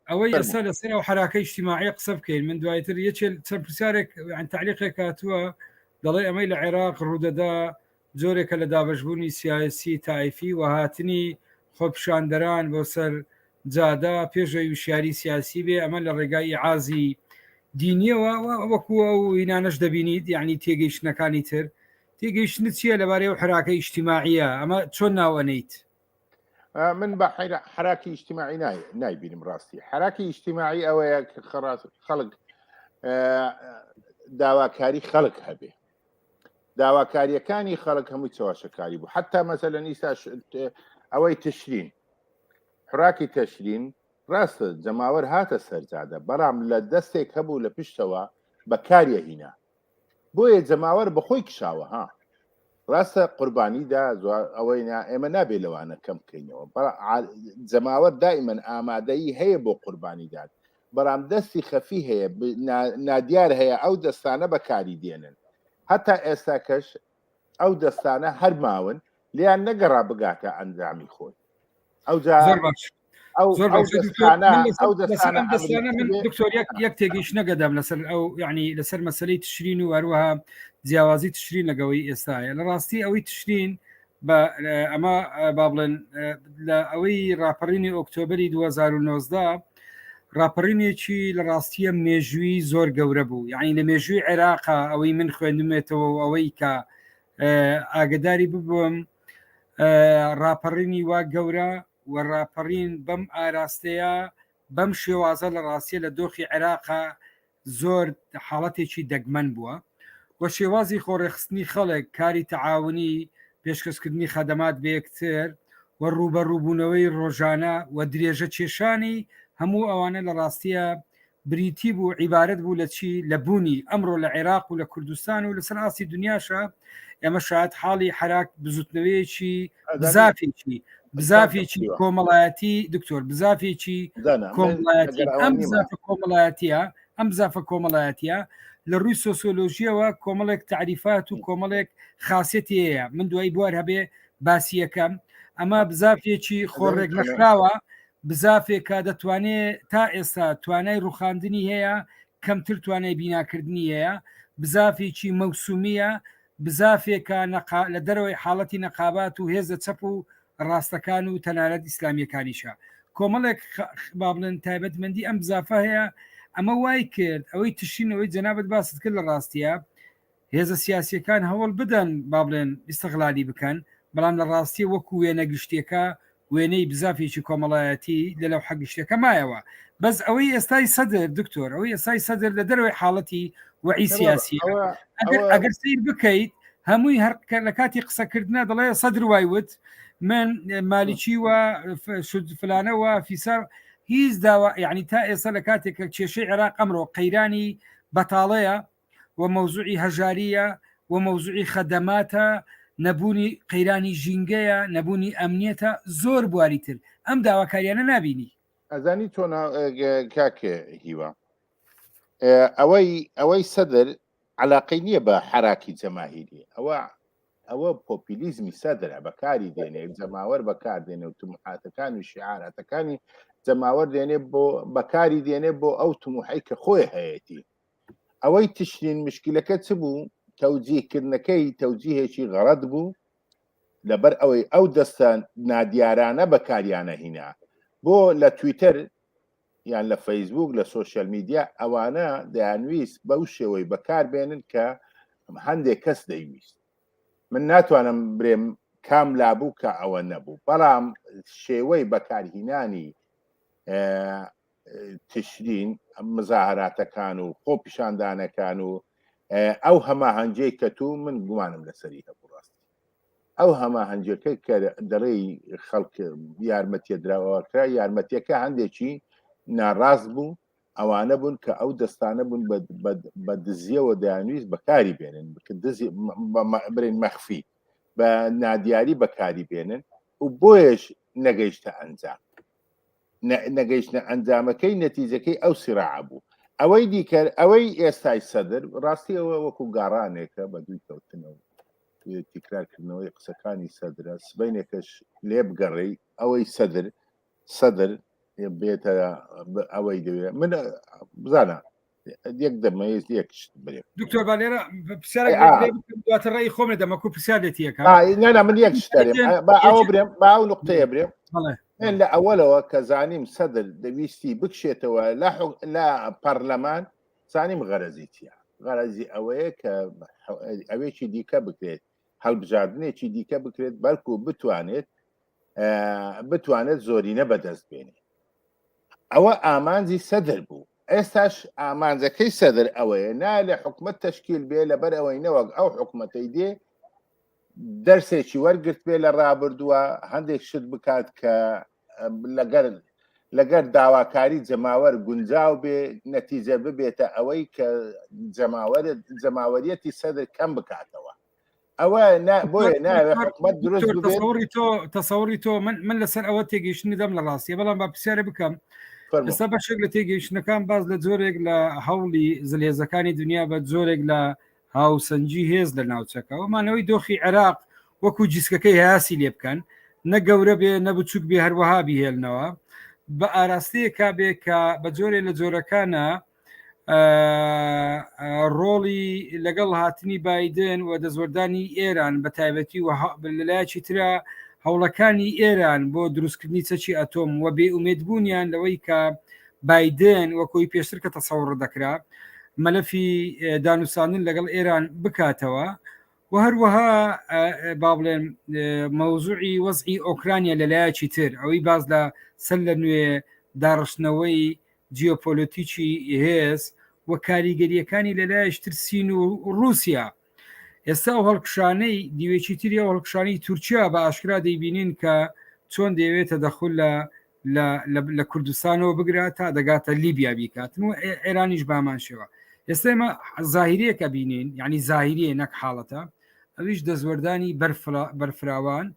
ئەوەی ئێستا لەسەر ئەو حراکە اجتماعی قسە بکەین من دوایتر یەکێ چەند پرسیارێک تالیقێک هاتووە دەڵێ ئەمەی لە عێراق ڕوودەدا جۆرێکە لە دابشبوونی سیاسی تایفی و هاتنی خۆپشاندەران بۆ سەر جادا پێشەوی وشیاری سیاسی بێ ئەمە لە ڕێگای عازی دینیەوە وەکو ئەو هینانەش دەبینیت یعنی تێگەیشتنەکانی تر تێگەیشتن چییە لەبارەی و حراکە ئیشتیماعە ئەمە چۆن ناوەنیت من بە حراکی ئیشتیماعی نایبینم ڕاستی حراکی ئیشتیماعی ئەوەیە کە خڕاس خەڵک داواکاری خەڵک هەبێ داواکاریەکانی خەڵک هەموو چەواشەکاری بوو حتا مەسە لە نیستا ئەوەی تشرین حراکی تەشرین ڕاستە جەماوەر هاتە سەرجادە بەڵام لە دەستێک هەبوو لە پشتەوە بەکاریە هینا بۆیە جەماوەر بەخۆی کشاوە ها ڕاستە قوربانی دا ئەوەی نا ئێمە نابێ لەوانە کەم بکەینەوە جەماوەر دائیمەن ئامادەی هەیە بۆ قوربانی داد بەڵام دەستی خەفی هەیە نادیار هەیە ئەو دەستانە بەکاری دێنن هەتا ئێستا کەش ئەو دەستانە هەر ماون لیان نەگەڕا بگاتە ئەنجامی خۆی ئەوجا دکتۆر یەک تێگەیش نەگەدام لەسەر ئەو یعنی لەسەر مەسلەی تشرین و هەروەها جیاوازی تشرین لەگەڵی ئێستاە لە ڕاستی ئەوەی تشرین بە ئەمە با بڵێن لە ئەوەی راپەڕینی ئۆکتۆبری 2019 ڕاپەڕینێکی لە ڕاستیە مێژووی زۆر گەورە بوو یعنی لە مێژووی عێراقا ئەوەی من خوێندمێتەوە و ئەوەی کە ئاگداری ببووم ڕاپەڕینی وا گەورە و ڕاپەڕین بەم ئاراستەیە بەم شێوازە لە ڕاستیە لە دۆخی عێراقا زۆر حاڵەتێکی دەگمەن بووە و شێوازی خۆڕێخستنی خەڵک کاری تەعاونی پێشکەشکردنی خەدەمات بە یەکتر و ڕووبەڕووبوونەوەی ڕۆژانە و درێژە کێشانی هەموو ئەوانە لە ڕاستیە بریتی بوو عیبارەت بوو لە چی لە بوونی ئەمڕۆ لە عێراق و لە کوردستان و لەسەر ئاستی دنیاشە ئێمە شاید حاڵی حراک بزوتنەوەیەکی زافێکی بزافێکی کۆمەڵایەتی دکتۆر بزافێکی کۆمەڵایەتە ئەم زافە کۆمەڵایەتە لە ڕووی سۆسۆلۆژیەوە کۆمەڵێک تعریفات و کۆمەڵێک خااسەتەیە من دوای بوار هەبێ باسیەکەم ئەمە بزافێکی خۆڕێک نەخراوە بزافێکە دەتوانێت تا ئێستا توانای ڕوخاندنی هەیە کەمتر توانای بیناکردنی هەیە بزافێکی مەوسومیە بزافێکە لە دەرەوەی حاڵەتی نەقابات و هێزە چەپ و ڕاستەکان و تەنانەت ئیسلامیەکانیشە کۆمەڵێک با بڵێن تایبەتمەندی ئەم بزافە هەیە ئەمە وای کرد ئەوەی تشینەوەی جەنابەت باست کرد لە ڕاستیە هێزە سیاسیەکان هەوڵ بدەن با بڵێن ئیسەغلالی بکەن بەڵام لە ڕاستی وەکو وێنە گشتیەکە وێنەی بزافێکی کۆمەڵایەتی لە لەو حەگشتەکە مایەوە بەس ئەوەی ئێستای سەدر دکتۆر ئەوەی ئێستای سەدر لە دەروی حاڵەتی وعی سیاسی ئەگەر سیر بکەیت هەمووی هەر لە کاتی قسەکردە دەڵێ سەدر وای وت من مالیکی و فلانەوە فیسەر هیچ داوا یعنی تا ئێستا لە کاتێک کە کێشەی عێراق ئەمڕۆ قەیرانی بەتاڵەیە و مەوزوعی هەژارییە و مەوزوعی خەدەماتە، نەبوونی قەیرانی ژینگەیە، نەبوونی ئەمنیەتە، زۆر بواری تر، ئەم داواکاریانە نابینی. ئەزانی تۆ نا کاک هیوا ئەوەی ئەوەی سەدر عەلاقەی نییە بە حەراکی جەماهیری ئەوە ئەوە پۆپیلیزمی سەدرە بەکاری دێنێ جەماوەر بەکار دێنێ و تمحاتەکان و شعارەتەکانی جەماوەر دێنێ بۆ بەکاری دێنێ بۆ ئەو تموحی کە خۆی هەیەتی ئەوەی تشرین مشکلەکە چ بوو تەوجیهکردنەکەی تەوجیهێکی غەڵەت بوو لەبەر ئەوەی ئەو دەستە نادیارانە بەکاریانە هینا بۆ لە تویتەر یان لە فەیسبوک لە سوۆشل میدیا ئەوانە دەیانویست بەو شێوەی بەکار بێنن کە هەندێک کەس دەیویست من ناتوانم برێم کام لابوو کە ئەوە نەبوو بەڵام شێوەی بەکارهینانی تشرین مزاهراتەکان و خۆپیشاندانەکان و ئەو هەماهەنجەی کە تو من گومانم لەسەری هەبوو ڕاستی ئەو هەماهەنجەکە کە دەڵێی خەڵک یارمەتیە دراوەکە یارمەتیەکە هەندێکی ناڕاست بوو ئەوانە بوون کە ئەو دەستانە بوون بە دزیەوە دەیانویست بەکاری بێنن برین مەخفی بە نادیاری بەکاری بێنن و بۆیش نەگەیشتە ئەنجام نەگەیشتنە ئەنجامەکەی نەتیجەکەی ئەو سراعە بوو ئەوەی دیکەر ئەوەی ئێستای سەدر ڕاستی ئەوە وەکو گاڕانێکە بە دووی کەوتنەوە تیکراکردنەوەی قسەکانی سەدرە سبینێکەش لێ بگەڕێی ئەوەی سەدر سەدر بێتە ئەوەی دەوێت من بزانە یەک دەمەیز یەک دکتۆر با لێرە پرسیارەواتە ڕێی خۆم لە دەمەکو پرسیار لێت یەکە نانا من یەک ئەوە برێم با ئەو نقطەیە برێم من لە ئەوەلەوە کە زانیم سەدر دەویستی بکشێتەوە لە پەرلەمان زانیم غەرەزیتە غەرەزی ئەوەیە کە ئەوێکی دیکە بکرێت هەڵبژاردنێکی دیکە بکرێت بەڵکو بتوانێت بتوانێت زۆرینە بەدەست بێنێت ئەوە ئامانجی سەدر بوو ئێستاش ئامانجەکەی سەدر ئەوەیە نا لە حکومت تشکیل بێ لەبەر ئەوەی نەوەک ئەو حکوومەتەی دێ دەرسێکی وەرگرت بێ لە ڕابردووە هەندێک شت بکات کە لەگەر لەگەر داواکاری جەماوەر گونجاو بێ نەتیجە ببێتە ئەوەی کە جەماوەرت جەماوەریەتی سەدر کەم بکاتەوە ئەوە بۆیە ناوێ حکومت دروست تەسەوری تۆ تەسەوری تۆ من من لەسەر ئەوە تێگەیشتنی دەم لە ڕاستیە بەڵام با پرسیارە بکەم ئێستا بەشێک لە تێگەیشتنەکان باز لە جۆرێک لە هەوڵی زلهێزەکانی دنیا بە جۆرێک لە هاوسەنگی هێز لە ناوچەکە و مانەوەی دۆخی عێراق وەکو جیسکەکەی هاسی لێ بکەن نە گەورە بێ نە بچووک بێ هەروەها بهێلنەوە بە ئاراستەیەکا بێ کە بە جۆرێ لە جۆرەکانە ڕۆڵی لەگەڵ هاتنی بادن و دەزۆردانی ئێران بە تایبەتی و لەلایەکی تررا هەوڵەکانی ئێران بۆ دروستکردنی چەکی ئەتۆم و بێ ئومێدبوونیان لەوەی کە بایدن وەکۆی پێشتر کە تەسەوڕ دەکرا مەلەفی دانوستاندن لەگەڵ ئێران بکاتەوە و هەروەها با بڵێن مەوزوعی وەزعی ئۆکرانیا لەلایەکی تر ئەوەی باز لە سەر لە نوێ داڕشتنەوەی جیۆپۆلۆتیکی هێز و کاریگەریەکانی لەلایەش ترسین و رووسیا ئێستا و هەڵکشانەی دیوێکی تری و هەڵکشانی تورکیا بە ئاشکرا دەیبینین کە چۆن دەیەوێتە دەخل لە لە کوردستانەوە بگرە تا دەگاتە لیبیا بیکاتن و ئێرانیش بامان شێوە ئێستا ئمە زاهریەکە بینین ینی زاهریە نەک حاڵەتە ئەویش دەستوەردانی بەرفراوان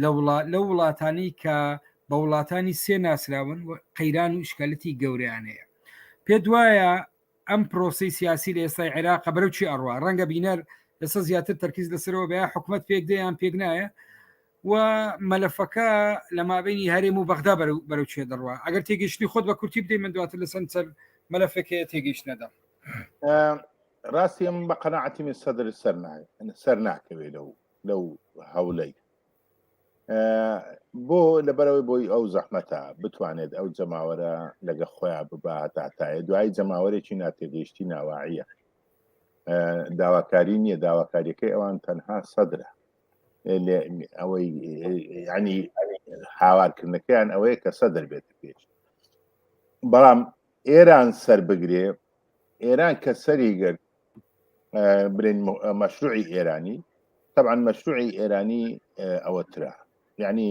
لە وڵات لە وڵاتانی کە بە وڵاتانی سێ ناسراون قەیران و شکالەتی گەوریان هەیە پێ دوایە ئەم پرۆسی سیاسی لە ئێستای عێراق بەرەو چی ئەڕوا ڕەنگە بینەر ئێستا زیاتر تەرکیز لەسەرەوە بە حکوومەت پێک دەیان پێک نایە و مەلەفەکە لە مابینی هەرێم و بەغدا بەرو بەرەو چێ دەڕوا ئەگەر تێگەشتنی خۆت بە کورتی بدەی من دواتر لە سند سەر مەلەفەکەیە تێگەشت نەدەم ڕاستی ئەم بە قەنەعەتی من سەدر سەر سەر ناکەوێت لەو لەو هەولەی بۆ لەبەرەوەی بۆی ئەو زەحمەتە بتوانێت ئەو جەماوەرە لەگە خۆیان بباتاتایە دوای جەماوەرێکی ناتێگەیشتی ناواعە داواکاری نییە داواکاریەکەی ئەوان تەنها سەدرە ئەوەی ینی هاوارکردنەکەیان ئەوەیە کە سەدر بێت پێش بەڵام ئێران سەر بگرێ ئێران کە سەری گرت برین مەشروعی ئێرانی طبعاان مەشروعی ئێرانی ئەوەترا یعنی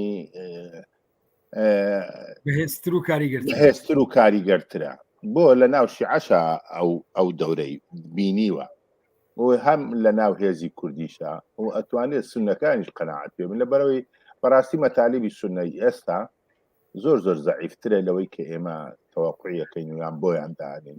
هێستر و کاریگەر هێستر و کاریگەرترە بۆ لە ناو شیعشە ئەو ئەو دەورەی بینیوە هەم لە ناو هێزی کوردیشە و ئەتوانێت سونەکانیش قەنەعات پێ من لە بەرەوەی بەڕاستی مەتالیبی سنەی ئێستا زۆر زۆر زەعیفترە لەوەی کە ئێمە تەواقعیەکەین ویان بۆیان دانین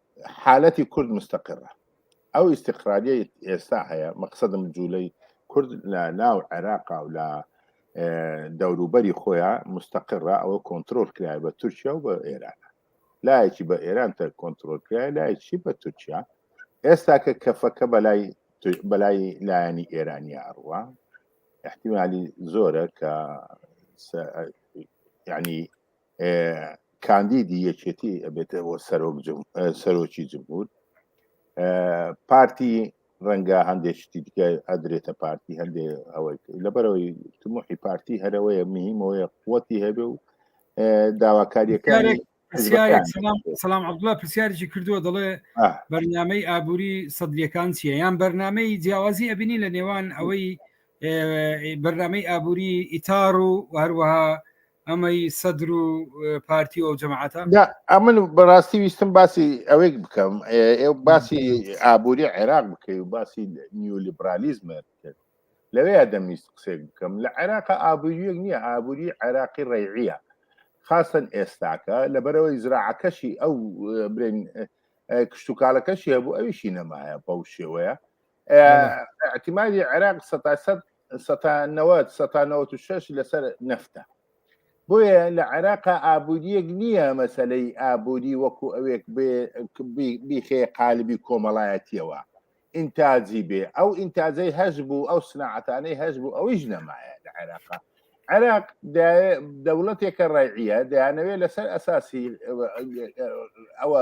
حالەتی کورد مستەقرە ئەو ئیسیقراریە ئێستا هەیە مەقصدم جوولەی کورد لە ناو عێراقا و لە دەوروبەری خۆیان مستەقرە ئەوە کۆنتترۆل کرای بە تورکیا و بە ئێران لایەکی بە ئێران تە کۆنتترۆل کرای لایەکی بە تورکیا ئێستا کە کەفەکە بەلای بەلای لایەنی ئێرانی ئەڕوە احتیمالی زۆرە کە ینی کاندیدی یەکێتی ئەبێتە بۆ سەرۆک سەرۆکی جمهور پارتی ڕەنگە هەندێک شتی دیکە ئەدرێتە پارتی هەندێک ئەوەی لەبەرەوەی تموحی پارتی هەرەوەیە مهمەوەیە قوتی هەبێ و داواکاریەکانی سلام عبدڵە پرسیارێکی کردووە دەڵێ بەرنمەی ئابووری سەدریەکان چیە یان بەرنمەی جیاوازی ئەبینی لە نێوان ئەوەی بەرنمەی ئابووری ئیتار و هەروەها ئەمەی سەدر و پارتی و ئەو جەماعاتە ئەمن بەڕاستی ویستم باسی ئەوێک بکەم ئێ باسی ئابووری عێراق بکەی و باسی نیولیبرالیزمە بکرد لەوەیە دەمویست قسێک بکەم لە عێراق ئابووریەک نییە ئابووری عێراقی ڕێعە خاستن ئێستاکە لەبەرەوەی زراعەکەشی ئەو برێن کشتتوکالەکەشی هەبوو ئەویشی نەمایە بەو شێوەیە ئەتیمادی عێراق سەتانەوەت سەتانەوەت و شش لەسەر نەفتە بۆیە لە عێراقا ئابوووریەک نییە مەسلەی ئابووری وەکو ئەوێک بیخێ قالبی کۆمەڵایەتیەوە ئینتاجی بێ ئەو ئینتاجەی هەش بوو ئەو سناعەتانەی هەش بوو ئەویش نەمایە لە عێراقا عێراق دەوڵەتێکە ڕێعە دەیانەوێت لەسەر ئەساسی ئەوە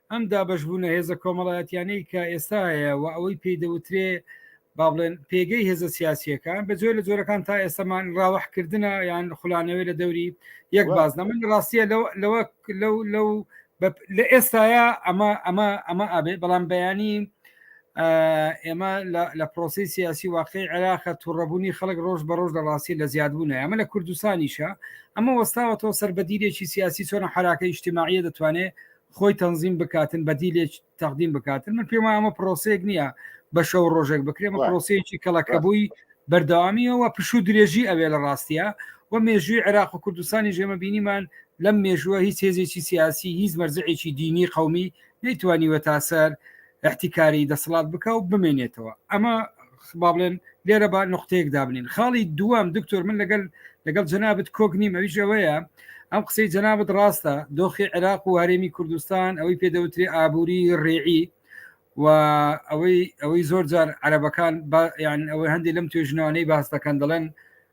ئەم دابەشبوونە هێزە کۆمەڵایەتیانەی کە ئێستا هەیە و ئەوەی پێی دەوترێ با بڵێن پێگەی هێزە سیاسیەکان بە جۆر لە جۆرەکان تا ئێستامان ڕاوەحکردە یان خولانەوەی لە دەوری یەک بازنە من ڕاستیە لەوە لەو لەو لە ئێستاە ئەمە ئەمە ئەمە ئابێ بەڵام بەیانی ئێمە لە پرۆسی سیاسی واقعی عێراقە توڕەبوونی خەڵک ڕۆژ بە ڕۆژ لە ڕاستی لە زیادبوون ئەمە لە کوردستانیشە ئەمە وەستاوەەوە سەر بەدیرێکی سیاسی چۆنە حراکە یشتیماعە دەتوانێت خۆی تەنزیم بکاتن بەدیلێک تەقدیم بکاتن من پێم ئەمە پرۆسێک نییە بە شەو ڕۆژێک بکرێمە پرۆسەیەکی کەڵەکەبووی بەردەوامیەوە پشوو درێژی ئەوێ لە ڕاستە و مێژووی عێراق و کوردستانی ژێمە بینیمان لەم مێژووە هیچ هێزێکی سیاسی هیچ مەرزعێکی دینی قومی نەیتوانیوە تاسەر احتیکاری دەسەڵات بکە و بمێنێتەوە ئەمە با بڵێن لێرە با نقطەیەک دابنین خاڵی دووەم دکتۆر من لەگەل لەگەڵ جەنابەت کۆک نیم ئەویش ئەوەیە ئەم قسەی جەنابەت ڕاستە دۆخی عێراق و هەرێمی کوردستان ئەوەی پێدەوتری ئابووری ڕێعی و ئەوەی ئەوەی زۆر جار عەرەبەکان یان ئەوەی هەندێک لەم توێژنەوانەی باس دەکەن دەڵێن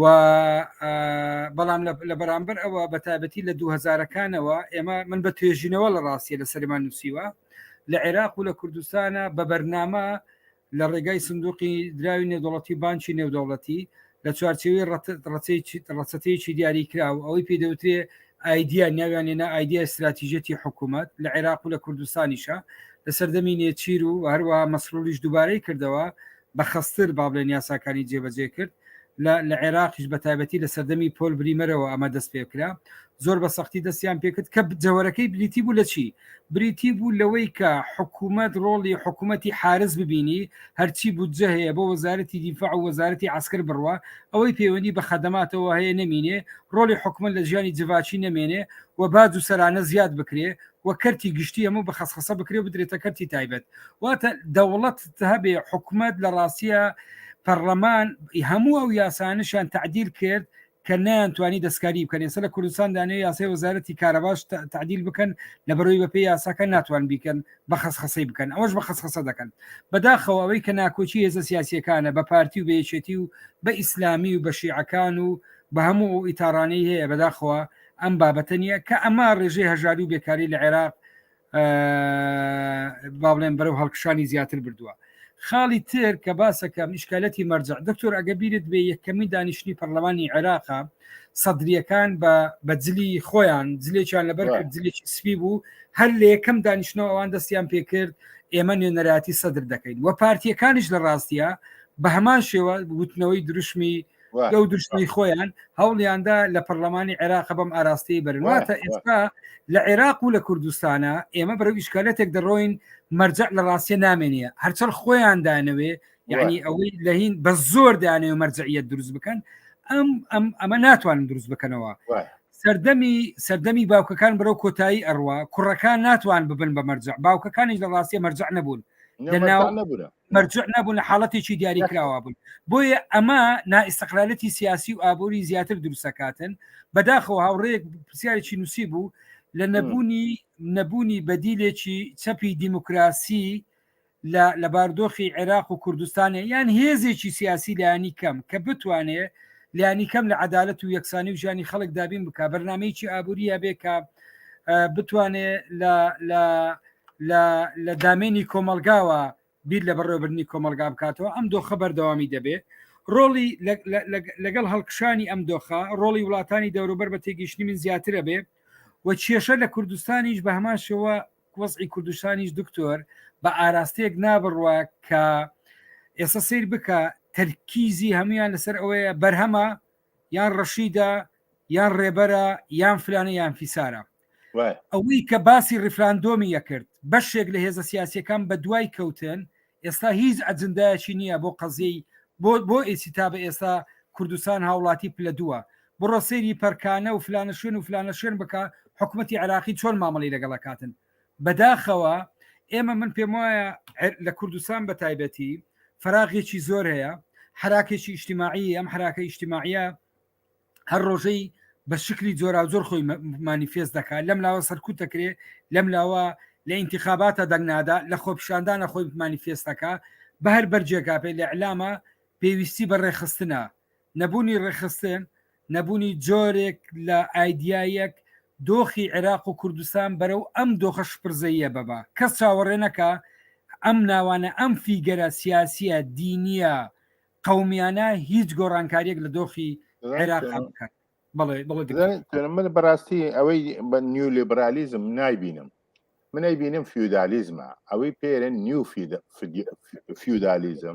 و بەڵام لە بەرامبەر ئەوە بە تابەتی لە 2000ەکانەوە ئێمە من بە توێژینەوە لە ڕاستیە لە سەرمان نووسیوە لە عێراق و لە کوردستانە بە بەرنامە لە ڕێگای سندوقی دراوی نێودوڵەتی بانکی نێودوڵەتی لە چوارچەوەی ڕەچەتەیەکی دیاری کرا و ئەوەی پێدەوترێ ئایدیا ناویان لێنا ئایدیا استراتیژەتی حکوومەت لە عێراق و لە کوردستانیشە لە سەردەمی نێچیر و هەروە مەسرۆلیش دووبارەی کردەوە بە خەستر با بڵێن یاساکانی جێبەجێ کرد لە لە عێراقیش بە تایبەتی لە سەردەمی پۆل بریمەرەوە ئەمە دەست پێکرا زۆر بە سەختی دەستیان پێکرد کە جەوەرەکەی بریتی بوو لە چی بریتی بوو لەوەی کە حکوومەت ڕۆڵی حکوومەتی حارس ببینی هەرچی بودجە هەیە بۆ وەزارەتی دیفاع و وەزارەتی عسکر بڕە ئەوەی پەیوەندی بە خەدەماتەوە هەیە نمینێ ڕۆڵی حکومە لە ژیانی جڤاچی نەمێنێ و باج و سەرانە زیاد بکرێ و کەرتی گشتی ئەمە بە خەسخەسە بکرێ بدرێتە کەرتی تایبەت واتە دەوڵەت هەبێ حکومت لە ڕاستە پەرلەمان هەموو ئەو یاسانشان تعدیل کرد کە نەیانتوانی دەستکاری بکەن ئێستا لە کوردستان دانێ یاسای وەزارەتی کارەباش تعدیل بکەن لە بەرەوەی بەپی یاساکە ناتوان بیکەن بە خەسخەسەی بکەن ئەوش بە خەسخەسە دەکەن بەداخەوە ئەوەی کە ناکۆچی هێزە سیاسیەکانە بە پارتی و بێچێتی و بە ئیسلامی و بە شیعەکان و بە هەموو ئیتارانەی هەیە بەداخەوە ئەم بابەتە نییە کە ئەمە ڕێژەی هەژاری و بێکاری لە عێراق با بڵێن بەرەو هەڵکشانی زیاتر بردووە خاڵی تر کە باسەکە میشکالەتی مەرجع دکتۆر ئەگە بیرت بێ یەکەمی دانیشتنی پەرلەمانی عێراقا سەدریەکان بە بەجلی خۆیان جلێکیان لەبەر جلێکی سپی بوو هەر لە یەکەم دانیشتنەوە ئەوان دەستیان پێکرد ئێمە نوێنەراتی سەدر دەکەین و پارتیەکانیش لە ڕاستە بە هەمان شێوە وتنەوەی دروشمی لەو دوشتنی خۆیان هەوڵیاندا لە پەرلەمانی عێراق بەم ئاراستەی بەرنواتە ئێستا لە عێراق و لە کوردستانە ئێمە بەرەو ئیشکالەتێک دەڕۆین مەرجە لە ڕاستە نامێنە هەرچەر خۆیان دانەوێ یعنی ئەوەی لەهین بە زۆر دانێ و مەرجعیت دروست بکەن ئەم ئەم ئەمە ناتوانن دروست بکەنەوە سەردەمی سەردەمی باوکەکان بەرەو کۆتایی ئەڕوا کوڕەکان ناتوان ببن بە مەرجع باوکەکانیش لە ڕاستە مەرجع نەبوون مەرجع نەبوون لە حاڵەتێکی دیاری کراوە بوون بۆیە ئەمە نائستقلالەتی سیاسی و ئابووری زیاتر دروستەکاتن بەداخەوە هاوڕێک پرسیارێکی نووسی بوو لە نەبوونی نەبوونی بەدیلێکی چەپی دیموکراسی لە باردۆخی عێراق و کوردستانە یان هێزێکی سیاسی لایانی کەم کە بتوانێ لیانی کەم لە عدالت و یەکسانی و ژانی خەڵک دابین بک بەرنمەیەکی ئابووری هەبێ کە بتوانێ لە لە دامێنی کۆمەلگاوە بیر لە بەڕێوەبرنی کۆمەلگا بکاتەوە ئەم دۆخە بەردەوامی دەبێ ڕۆڵی لەگەڵ هەڵکشانی ئەم دۆخە ڕۆڵی وڵاتانی دەوروبەر بە تێگەیشتنی من زیاترە بێ و کێشە لە کوردستانیش بە هەمان شێوە وەزعی کوردستانیش دکتۆر بە ئاراستەیەک نابڕوە کە ئێستا سیر بکە تەرکیزی هەمویان لەسەر ئەوەیە بەرهەمە یان ڕەشیدە یان ڕێبەرە یان فلانە یان فیسارە ئەوەی کە باسی ڕیفراندۆمی یەکرد بەشێک لە هێزە سیاسەکان بە دوای کەوتن ئێستا هیچ ئەجندایەکی نییە بۆ قەزیەی بۆ بۆ ئێسی تا بە ئێستا کوردستان هاوڵاتی پلە دووە بڕۆ سەیری پەرکانە و فلانە شوێن و فلانە شوێن بکە حکوومەتتی عراقی چۆن مامەڵی لەگەڵەکاتن بەداخەوە ئێمە من پێم وایە لە کوردستان بە تایبەتی فراغێکی زۆر هەیە حراکێکی ئیشتیماعی ئەم حراکە ئیشتیماعە هەر ڕۆژەی بە شکلی جۆرا زۆر خۆی مانیفێست دەکات لەم لاوە سەرکوت دەکرێت لەم لاوە لە ئینتخاباتە دەنگنادا لە خۆپشاندانە خۆی مانیفێستەکە بە هەر بەرجێکا پێ لە علامە پێویستی بە ڕێخستنە نەبوونی ڕێکخستن، نەبوونی جۆرێک لە ئایدیایەک دۆخی عێراق و کوردستان بەرەو ئەم دۆخە شپرزەییە ببا. کەس چاوەڕێ نەکا ئەم ناوانە، ئەم فیگەرە سیاسییە، دینییە، قەومییانە هیچ گۆڕانکارییەک لە دۆخی عێراقا بکەن. بەڵێ، بەڵێ دکتۆر. بزانیت من بەڕاستی ئەوەی بە نیولیبرالیزم نایبینم. من ئەیبینم فیودالیزمە. ئەوەی پێرێن نیو فیودالیزم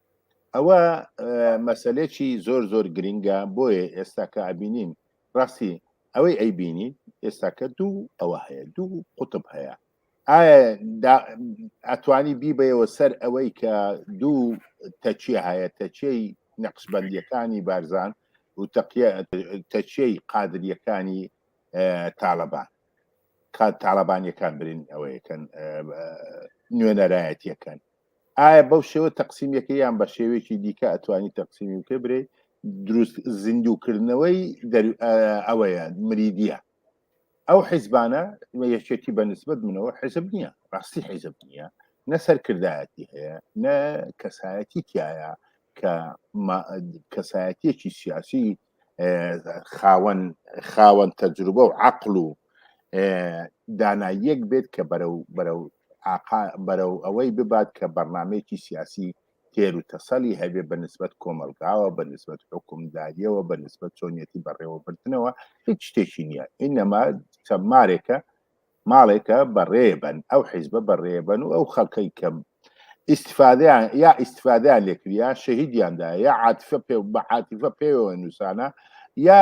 ئەوە مەسلێکی زۆر زۆر گرنگە بۆیە ئێستا کە ئەبینین ڕاستی ئەوەی ئەی بینی ئێستاکە دوو ئەوە هەیە دوو قوتب هەیە ئەتوانی بیبەوە سەر ئەوەی کە دوو تەچیە هەیە تەچەی نەقشبندیەکانی بارزان و تەچەی قادریەکانی تاالبان تاالبانیەکان برین ئەوەیەکەن نوێنەرایەتیەکەن ئایا بەو شێوە تەقسیمەکە یان بە شێوێکی دیکە ئەتوانی تەقسیمی بکە برێ دروست زیندووکردنەوەی ئەوەیە مریدە ئەو حیزبانە یەکێتی بە نسبت منەوە حیزب نییە ڕاستی حیزب نییە نە سەرکردایەتی هەیە نە کەسایەتی تایە کە کەسایەتیەکی سیاسی خاوەن خاوەن تەجروبە و عقل و داناییەک بێت کە بەرەو بەرەو ئاقا بەرەو ئەوەی ببات کە بەرنامەیەکی سیاسی تێر و تەسەلی هەبێ بە نسبەت کۆمەلگاوە بە نسبەت حوکمداریەوە بە نسبەت چۆنیەتی بەڕێوەبردنەوە هیچ شتێکی نییە ئینەما چەمارێکە ماڵێکە بەڕێبەن ئەو حیزبە بەڕێبەن و ئەو خەڵکەی کەم ئیسفادیان یا ئیسفادیان لێکریا شەهیدیاندا یا عاتفە پێ بە عاتیفە پێوە نووسانە یا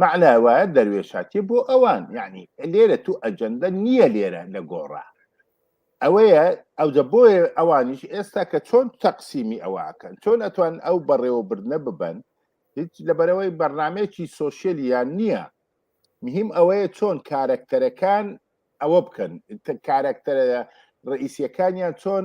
مەعنا وایە دەروێشاتیە بۆ ئەوان یعنی لێرە تو ئەجەندە نییە لێرە لە گۆڕا ئەوەیە ئەوجە بۆیە ئەوانیش ئێستا کە چۆن تەقسیمی ئەوەکەن چۆن ئەتوان ئەو بەڕێوەبردنە ببن هیچ لەبەرەوەی بەرنمێکی سۆسیەلیان نییە مهم ئەوەیە چۆن کارەکتەرەکان ئەوە بکەن کارەکتەرە ڕئیسیەکانیان چۆن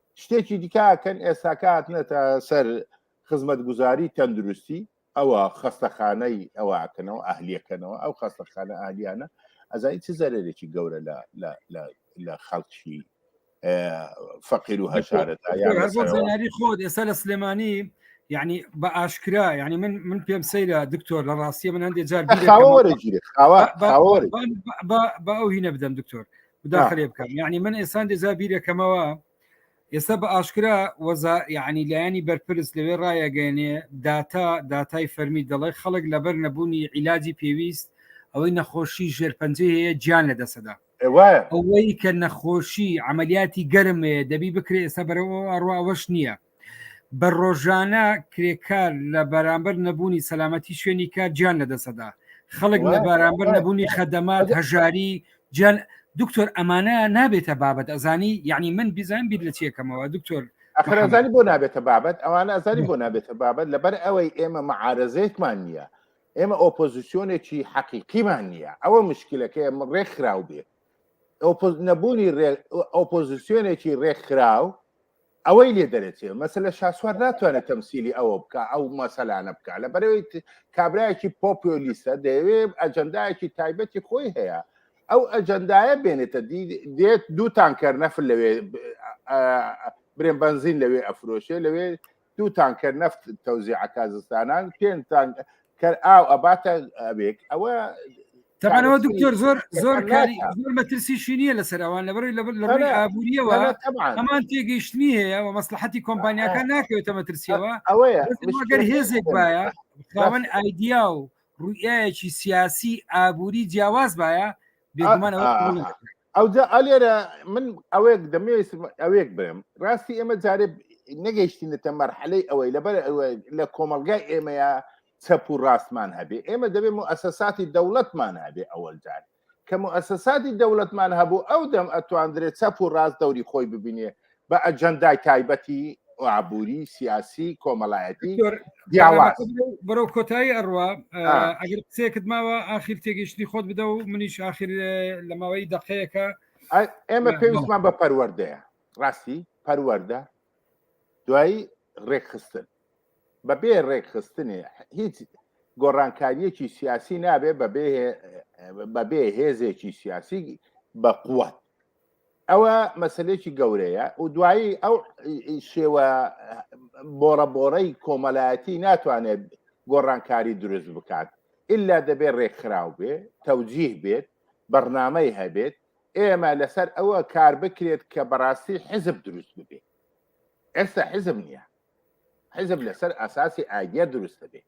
شتێکی دیکە کەن ئێستاکە هاتنێتە سەر خزمەتگوزاری تەندروستی ئەوە خەستەخانەی ئەوەکەنەوە ئەهلیەکەنەوە ئەو خەستەخانە ئالیانە ئەزای چ زەرێکی گەورە لە خەڵکی فەقیر و هەشارەتاری خۆت ئێستا لە سلێمانی یعنی بە ئاشکرا ینی من من پێم سەیرە دکتۆر لە ڕاستیە من هەندێک جار بە ئەو هینە بدەم دکتۆر بداخلێ بکەم یعنی من ئێستا دێزا بیرەکەمەوە ئێستا بە ئاشکرا وەزا یعنی لایەنی بەرپرس لەوێ ڕایەگەێنێ داتا داتای فەرمی دەڵێ خەڵک لەبەر نەبوونی عیلاجی پێویست ئەوەی نەخۆشی ژێرپەنجەی هەیە گیان لە دەسەدا ئەوەی کە نەخۆشی عملیاتی گەرمەیە دەبی بکرێ ئێستا بەرەوە ئەڕواوەش نییە بە ڕۆژانە کرێکار لە بەرامبەر نەبوونی سەلامەتی شوێنی کار جیان لە دەسەدا خەڵک لە بەرامبەر نەبوونی خەدەمات هەژاری جان دکتۆر ئەمانە نابێتە بابەت ئەزانی یعنی من بیزان بیر لە چیەکەمەوە دکتۆر ئەخرزانی بۆ نابێتە بابەت ئەوانە ئەزانی بۆ نابێتە بابەت لەبەر ئەوەی ئێمە معارزێکمان نییە ئێمە ئۆپۆزیسیۆنێکی حەقیقیمان نییە ئەوە مشکلەکە ئەمە ڕێکخراو بێت نەبوونی ئۆپۆزیسیۆنێکی ڕێکخراو ئەوەی لێ دەرەچێ مەسلە شاسوار ناتوانێت تەمسیلی ئەوە بکە ئەو مەسەلانە بکە لە بەرەوەی کابراایکی پۆپیۆلیستە دەیەوێ ئەجەندایەکی تایبەتی خۆی هەیە ئەو ئەجەندایە بێنێتە دێت دووتان کەر نەفل لەوێ برێن بنزین لەوێ ئەفرۆشێ لەوێ دووتان کەر نەفت تەوزیعکە زستانان پێنجتان کەر ئاو ئەباتە ئەبێک ئەوە تەبانەوە دکتۆر زۆر زۆر کاری زۆر مەترسیشی نییە لەسەر ئەوان لە بەروی لەڕی ئابوووریەوە هەمان تێگەیشتنی هەیە و مەسلحەتی کۆمپانیەکان ناکەوێتە مەترسیەوە ئەوەیە گەر هێزێک باە خاوەن ئایدیا و ڕوئایەکی سیاسی ئابووری جیاواز باە ئەوجا ئەلێرە من ئەوێک دەمێویست ئەوێک برم ڕاستی ئێمە جارێ نەگەیشتینەتە مەرحەلەی ئەوەی لەبەر لە کۆمەلگای ئێمەیە چەپ و ڕاستمان هەبێ ئێمە دەبێ و ئەسەساتی دەوڵەتمان هەبێ ئەوەل جار کە ئەسەساتی دەوڵەتمان هەبوو ئەو دەم ئەتواندرێت چەپ و ڕاست دەوری خۆی ببینێ بە ئەجەندای تایبەتی ئابووری سیاسی کۆمەلایەتی بەرەو کۆتایی ئەڕوا ئەگەر قسێکت ماوە ئاخیر تێگەشتنی خۆت بدە و منیش ئاخیر لە ماوەی دقەیەەکە ئێمە پێویستمان بە پەروەردەیە ڕاستی پەروەەردە دوایی ڕێکخستن بەبێ ڕێکخستنێ هیچ گۆڕانکاریەکی سیاسی نابێ بەبێ بەبێ هێزێکی سیاسی بە قووەت ئەوە مەسلێکی گەورەیە و دوایی ئەو شێوە بۆڕە بۆڕەی کۆمەلایەتی ناتوانێت گۆڕانکاری دروست بکات ئللا دەبێت ڕێکخراو بێ تەوجیه بێت بەرنامەی هەبێت ئێمە لەسەر ئەوە کار بکرێت کە بەڕاستی حزب دروست ببێت ئێستا حزب نییە حزب لەسەر ئاساسی ئاگە دروست دەبێت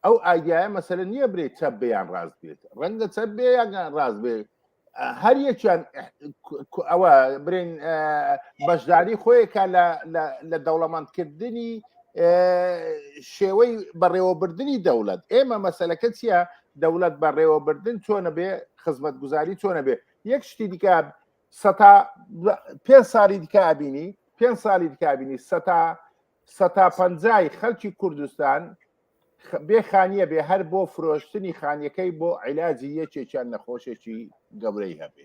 ئەو ئاگایە مەسەر نییە برێ چەپ بیان ڕاست بێت ڕەنگە چەپ بێ یاگە ڕاست بێت هەر یەکیان ئەوە برین بەشداری خۆیەکە لە دەوڵەمەندکردنی شێوەی بەڕێوەبردننی دەوڵەت ئێمە مەسلەکە چییە دەوڵەت بەڕێوەبردن چۆنە بێ خزمەت گوزاری چۆنە بێ یەک شتی دیکە سەتا پێ ساڵی دیکە ئابینی پێ ساڵی دیکابینی سەتا سەتا پەنجای خەلکی کوردستان بێ خانیە بێ هەر بۆ فرۆشتنی خانیەکەی بۆ عیلاجی یەکێکیان نەخۆشێکی گەورەی هەبێ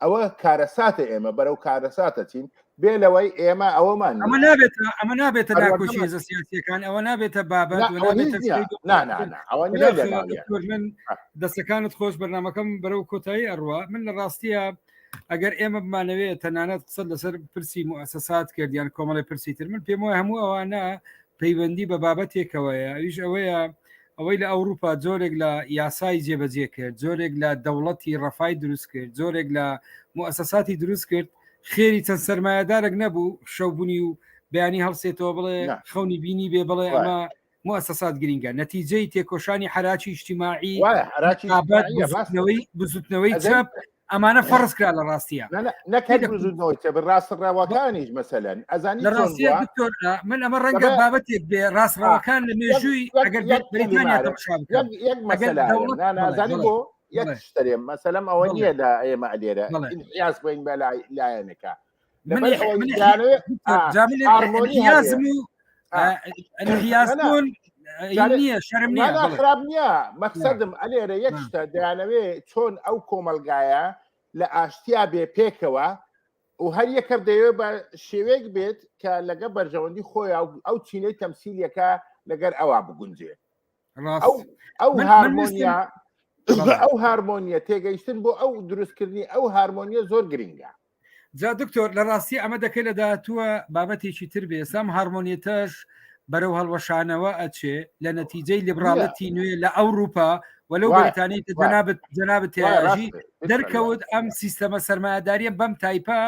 ئەوە کارەساتە ئێمە بەرەو کارەساتە چین بێ لەوەی ئێمە ئەوەمان ئەمە نابێت ئەمە نابێتە ناکۆشی زە سیاسەکان ئەوە نابێتە بابەت من دەستەکانت خۆش بەرنمەکەم بەرەو کۆتایی ئەڕوە من لە ڕاستیە ئەگەر ئێمە بمانەوەێت تەنانەت قسە لەسەر پرسی موسەسات کردیان کۆمەڵی پرسی تر من پێم وای هەموو ئەوانە پەیوەندی بە بابەتێکەوەیە ئەویش ئەوەیە ئەوەی لە ئەوروپا جۆرێک لە یاسایی جێبەجێ کرد جۆرێک لە دەوڵەتی ڕەفای دروست کرد جۆرێک لە موسەساتی دروست کرد خێری چەند سرمایهدارێک نەبوو شەوبوونی و بەیانی هەڵسێتەوە بڵێ خەونی بینی بێ بڵێ ئەمە موسسات گرینگە نەتیجەی تێکۆشانی حراکی ئیشتیماعی بزوتنەوەی چەپ ئەمانە فەرز کرا لە ڕاستیە ڕاست ڕەوەکانیش مەسەن ئەزان لە ڕاستە دکتۆر من ئەمە ڕەنگە بابەتێک بێ ڕاست ڕەوەکان لە مێژووی ئەگەرزانی بۆ یەک شتێ مەسەلم ئەوە نیە لە ئێمە لێرە یاس بۆین بە لایەنەکە نییە شەرم نیە خراپ نییە مەقصدم ئەلێرە یەک شتە دەیانەوێ چۆن ئەو کۆمەلگایە لە ئاشتیا بێ پێکەوە و هەر یەکەر دەیێ بە شێوەیەک بێت کە لەگە بەرژەوەندی خۆی ئەو چینەی تەمسیلەکە لەگەر ئەوە بگونجێ ئەو هارمۆنیا ئەو هارمۆنیە تێگەیشتن بۆ ئەو دروستکردنی ئەو هارمۆنیە زۆر گرنگە جا دکتۆر لە ڕاستی ئەمە دەکەی لە داهاتووە بابەتێکی تر بێسام هارمۆنیتەش بەرەو هەڵوەشانەوە ئەچێ لە نەتیجەی لیبراڵەتی نوێ لە ئەوروپا وەلو بەتانی جنابەت جنابەت تێژی دەرکەوت ئەم سیستەمە سەرمایهداریە بەم تایپە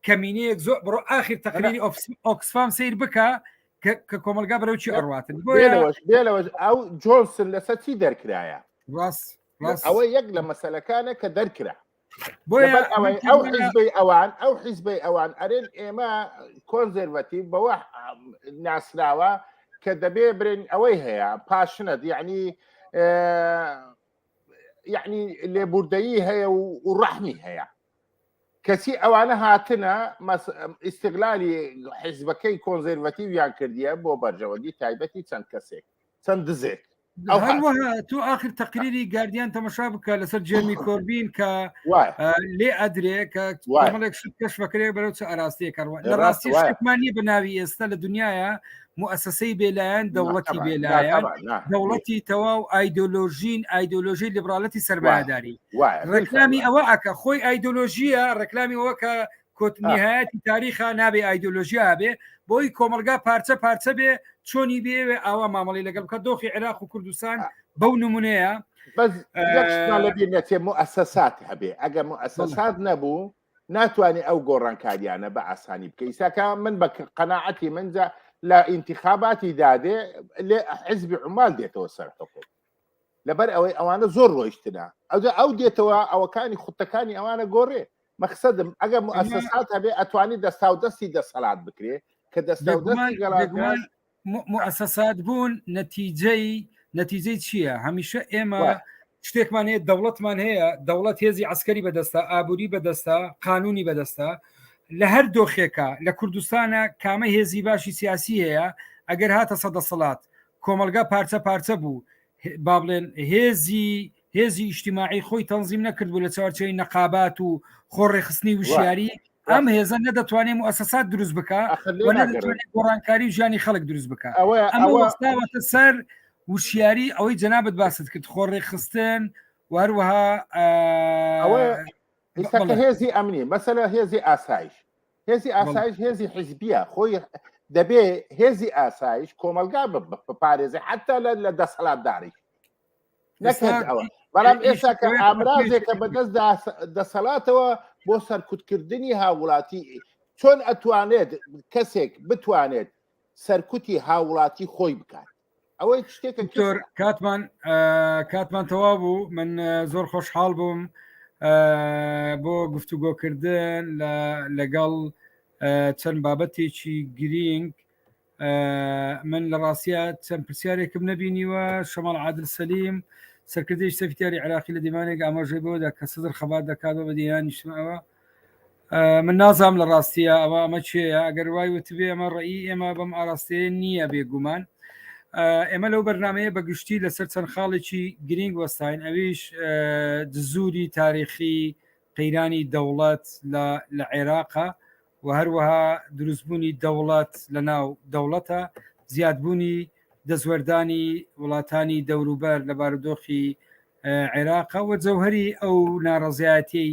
کەمینەیەک زۆر بڕۆ ئاخیر تەقلیلی ئۆکسفام سیر بکە کە کۆمەلگا بەرەو چی ئەڕاتن بۆەوەش بێلەوەش ئەو جۆنسن لەسەر چی دەرکرایە ڕاست ئەوە یەک لە مەسلەکانە کە دەرکرا بۆیە ئەوەی ئەو حیزبەی ئەوان ئەو حیزبەی ئەوان ئەرێن ئێمە کۆنزەرڤەتی بەوە ناسراوە کە دەبێ برێن ئەوەی هەیە پاشنە دیعنی یعنی لێبوردەیی هەیە و ڕەحمی هەیە کەچی ئەوانە هاتنە ئیسیغلالی حیزبەکەی کۆنزەرڤەتیویان کردیە بۆ بەرژەوەندی تایبەتی چەند کەسێک چەند دزێک تو آخر تقریری گاردیان تەمەشا بکە لەسەر جێمی کۆربین کە لێ ئەدرێ کە کەشفەکرێ بەرەو چ ئاراستەیە کەڕوە لە ڕاستیمانی بە ناوی ئێستا لە دنیاە موسسەی بێلایەن دەوڵەتی بێلایەن دەوڵەتی تەواو ئایدۆلۆژین ئایدۆلۆژی لیبرالەتی سەرباداری ڕێکلامی ئەوە ئەکە خۆی ئایدۆلۆژیە ڕێکلامی ئەوە کە کۆتنیهایەتی تاریخا نابێ ئایدۆلۆژیا بێ بۆی کۆمەلگا پارچە پارچە بێ چۆنی بێوێ ئاوا مامەڵی لەگەڵ بکە دۆخی عێراق و کوردستان بەو نمونەیە بەس لەبیێتێ موسەسات هەبێ ئەگە موسەسات نەبوو ناتوانێ ئەو گۆڕانکاریانە بە ئاسانی بکە ئیساکە من بە قەنەعەتی منجا لە ئینتخاباتی دادێ لێ حزبی عمال دێتەوە سەر حکوم لەبەر ئەوەی ئەوانە زۆر ڕۆیشتنە ئەوجا ئەو دێتەوە ئەوەکانی خوتەکانی ئەوانە گۆڕێ مەخسەدم ئەگەر مؤسسات هەبێ ئەتوانی دەستا و دەستی دەسەلات بکرێ کە دەستا و دەستی گەڵان موسەسات بوون نەتیجەی نەتیجەی چییە هەمیشە ئێمە شتێکمان هەیە دەوڵەتمان هەیە دەوڵەت هێزی عسکەری بەدەستە ئابووری بەدەستە قانونی بەدەستە لە هەر دۆخێکە لە کوردستانە کامە هێزی باشی سیاسی هەیە ئەگەر هاتە سەدەسەڵات کۆمەلگا پارچە پارچە بوو با بڵێن هێزی هێزی ئیشتیماعی خۆی تەنزیم نەکردبوو لە چوارچەوەی نەقابات و خۆڕێخستنی وشیاری ئەم هێزە نەدەتوانێت و ئەسەسات دروست بکە گۆڕانکاری و ژیانی خەڵک دروست بکە ئەمەوەستاوەتە سەر وشیاری ئەوەی جەنابەت باست کرد خۆڕێخستن وهروەها هێزی ئەمنی مەسەلا هێزی ئاسایش هێزی ئاسایش هێزی حیزبیە خۆی دەبێ هێزی ئاسایش کۆمەلگا بپارێزی حتا لە لە دەسەڵاتداری نەکرد ئەوە بەڵام ئێستا کە ئامرازێکە بەدەست دەسەڵاتەوە بۆ سەرکوتکردنی هاوڵاتی چۆن ئەتوانێت کەسێک بتوانێت سەرکوتی هاوڵاتی خۆی بکات ئەوەی شتێکە دکتۆر کاتمان کاتمان تەوا بوو من زۆر خۆشحاڵ بووم بۆ گفتوگۆکردن لەگەڵ چەند بابەتێکی گرینگ من لە ڕاستە چەند پرسیارێکم نبینیوە شەمەڵ عادل سەلیم سەرکردی سەفتیاری عراقی لە دیمانێک ئاماژەی بۆدا کە سەدر خەبات دەکات بە دیانیشتمەوە من نازام لە ڕاستیە ئەوە ئەمە چێە ئەگەر وای وتبێ ئەمە ڕێی ئێمە بەم ئاراستەیە نییە بێگومان ئێمە لەو بەرنمەیە بە گشتی لەسەر چەند خاڵێکی گرنگ وەستاین ئەویش دزوری تاریخی قەیرانی دەوڵەت لە عێراقە و هەروەها دروستبوونی دەوڵەت لە ناو دەوڵەتە زیادبوونی دەستوەردانی وڵاتانی دەوروبەر لە بارودۆخی عێراقە و جەوهری ئەو ناڕزایەتی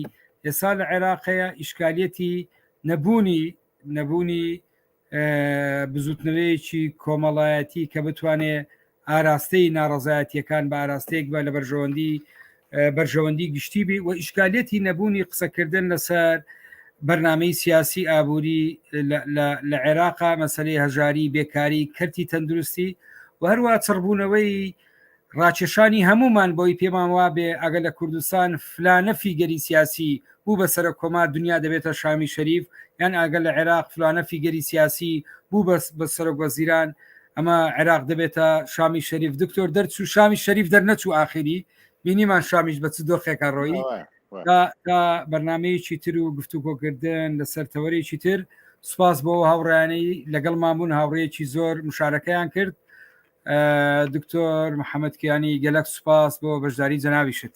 ئێستا لە عێراقەیە ئیشکالیەتی نەبوونی نەبوونی بزوتنەوەیەکی کۆمەڵایەتی کە بتوانێت ئاراستەی ناڕەزایەتیەکان بە ئاراستەیەک بە لە بەرژەوەندی بەرژەوەندی گشتی بی و ئیشکالەتی نەبوونی قسەکردن لەسەر بەرنمەی سیاسی ئابووری لە عێراقا مەسلەی هەژاری بێکاری کەرتی تەندروستی و هەروە چڕبوونەوەی ڕاکێشانی هەمومان بۆی پێمان وابێ ئەگە لە کوردستان فلانە فیگەری سیاسی بوو بە سەرۆک کۆمار دنیا دەبێتە شامی شەریف یان ئاگە لە عێراق فلانە فیگەری سیاسی بوو بەس بە سەرۆک وەزیران ئەمە عێراق دەبێتە شامی شەریف دکتۆر دەرچوو شامی شەریف دەرنەچوو ئاخری بینیمان شامیش بە چ دۆخێکە ڕۆیی تا بەرنمەیەکی تر و گفتوگۆکردن لەسەر تەوەرێکی تر سوپاس بۆ هاوڕیانەی لەگەڵ مامون هاوڕێکی زۆر مشارەکەیان کرد دکتۆر محەممەد کیانی گەلک سوپاس بۆ بەشداری جەناویشت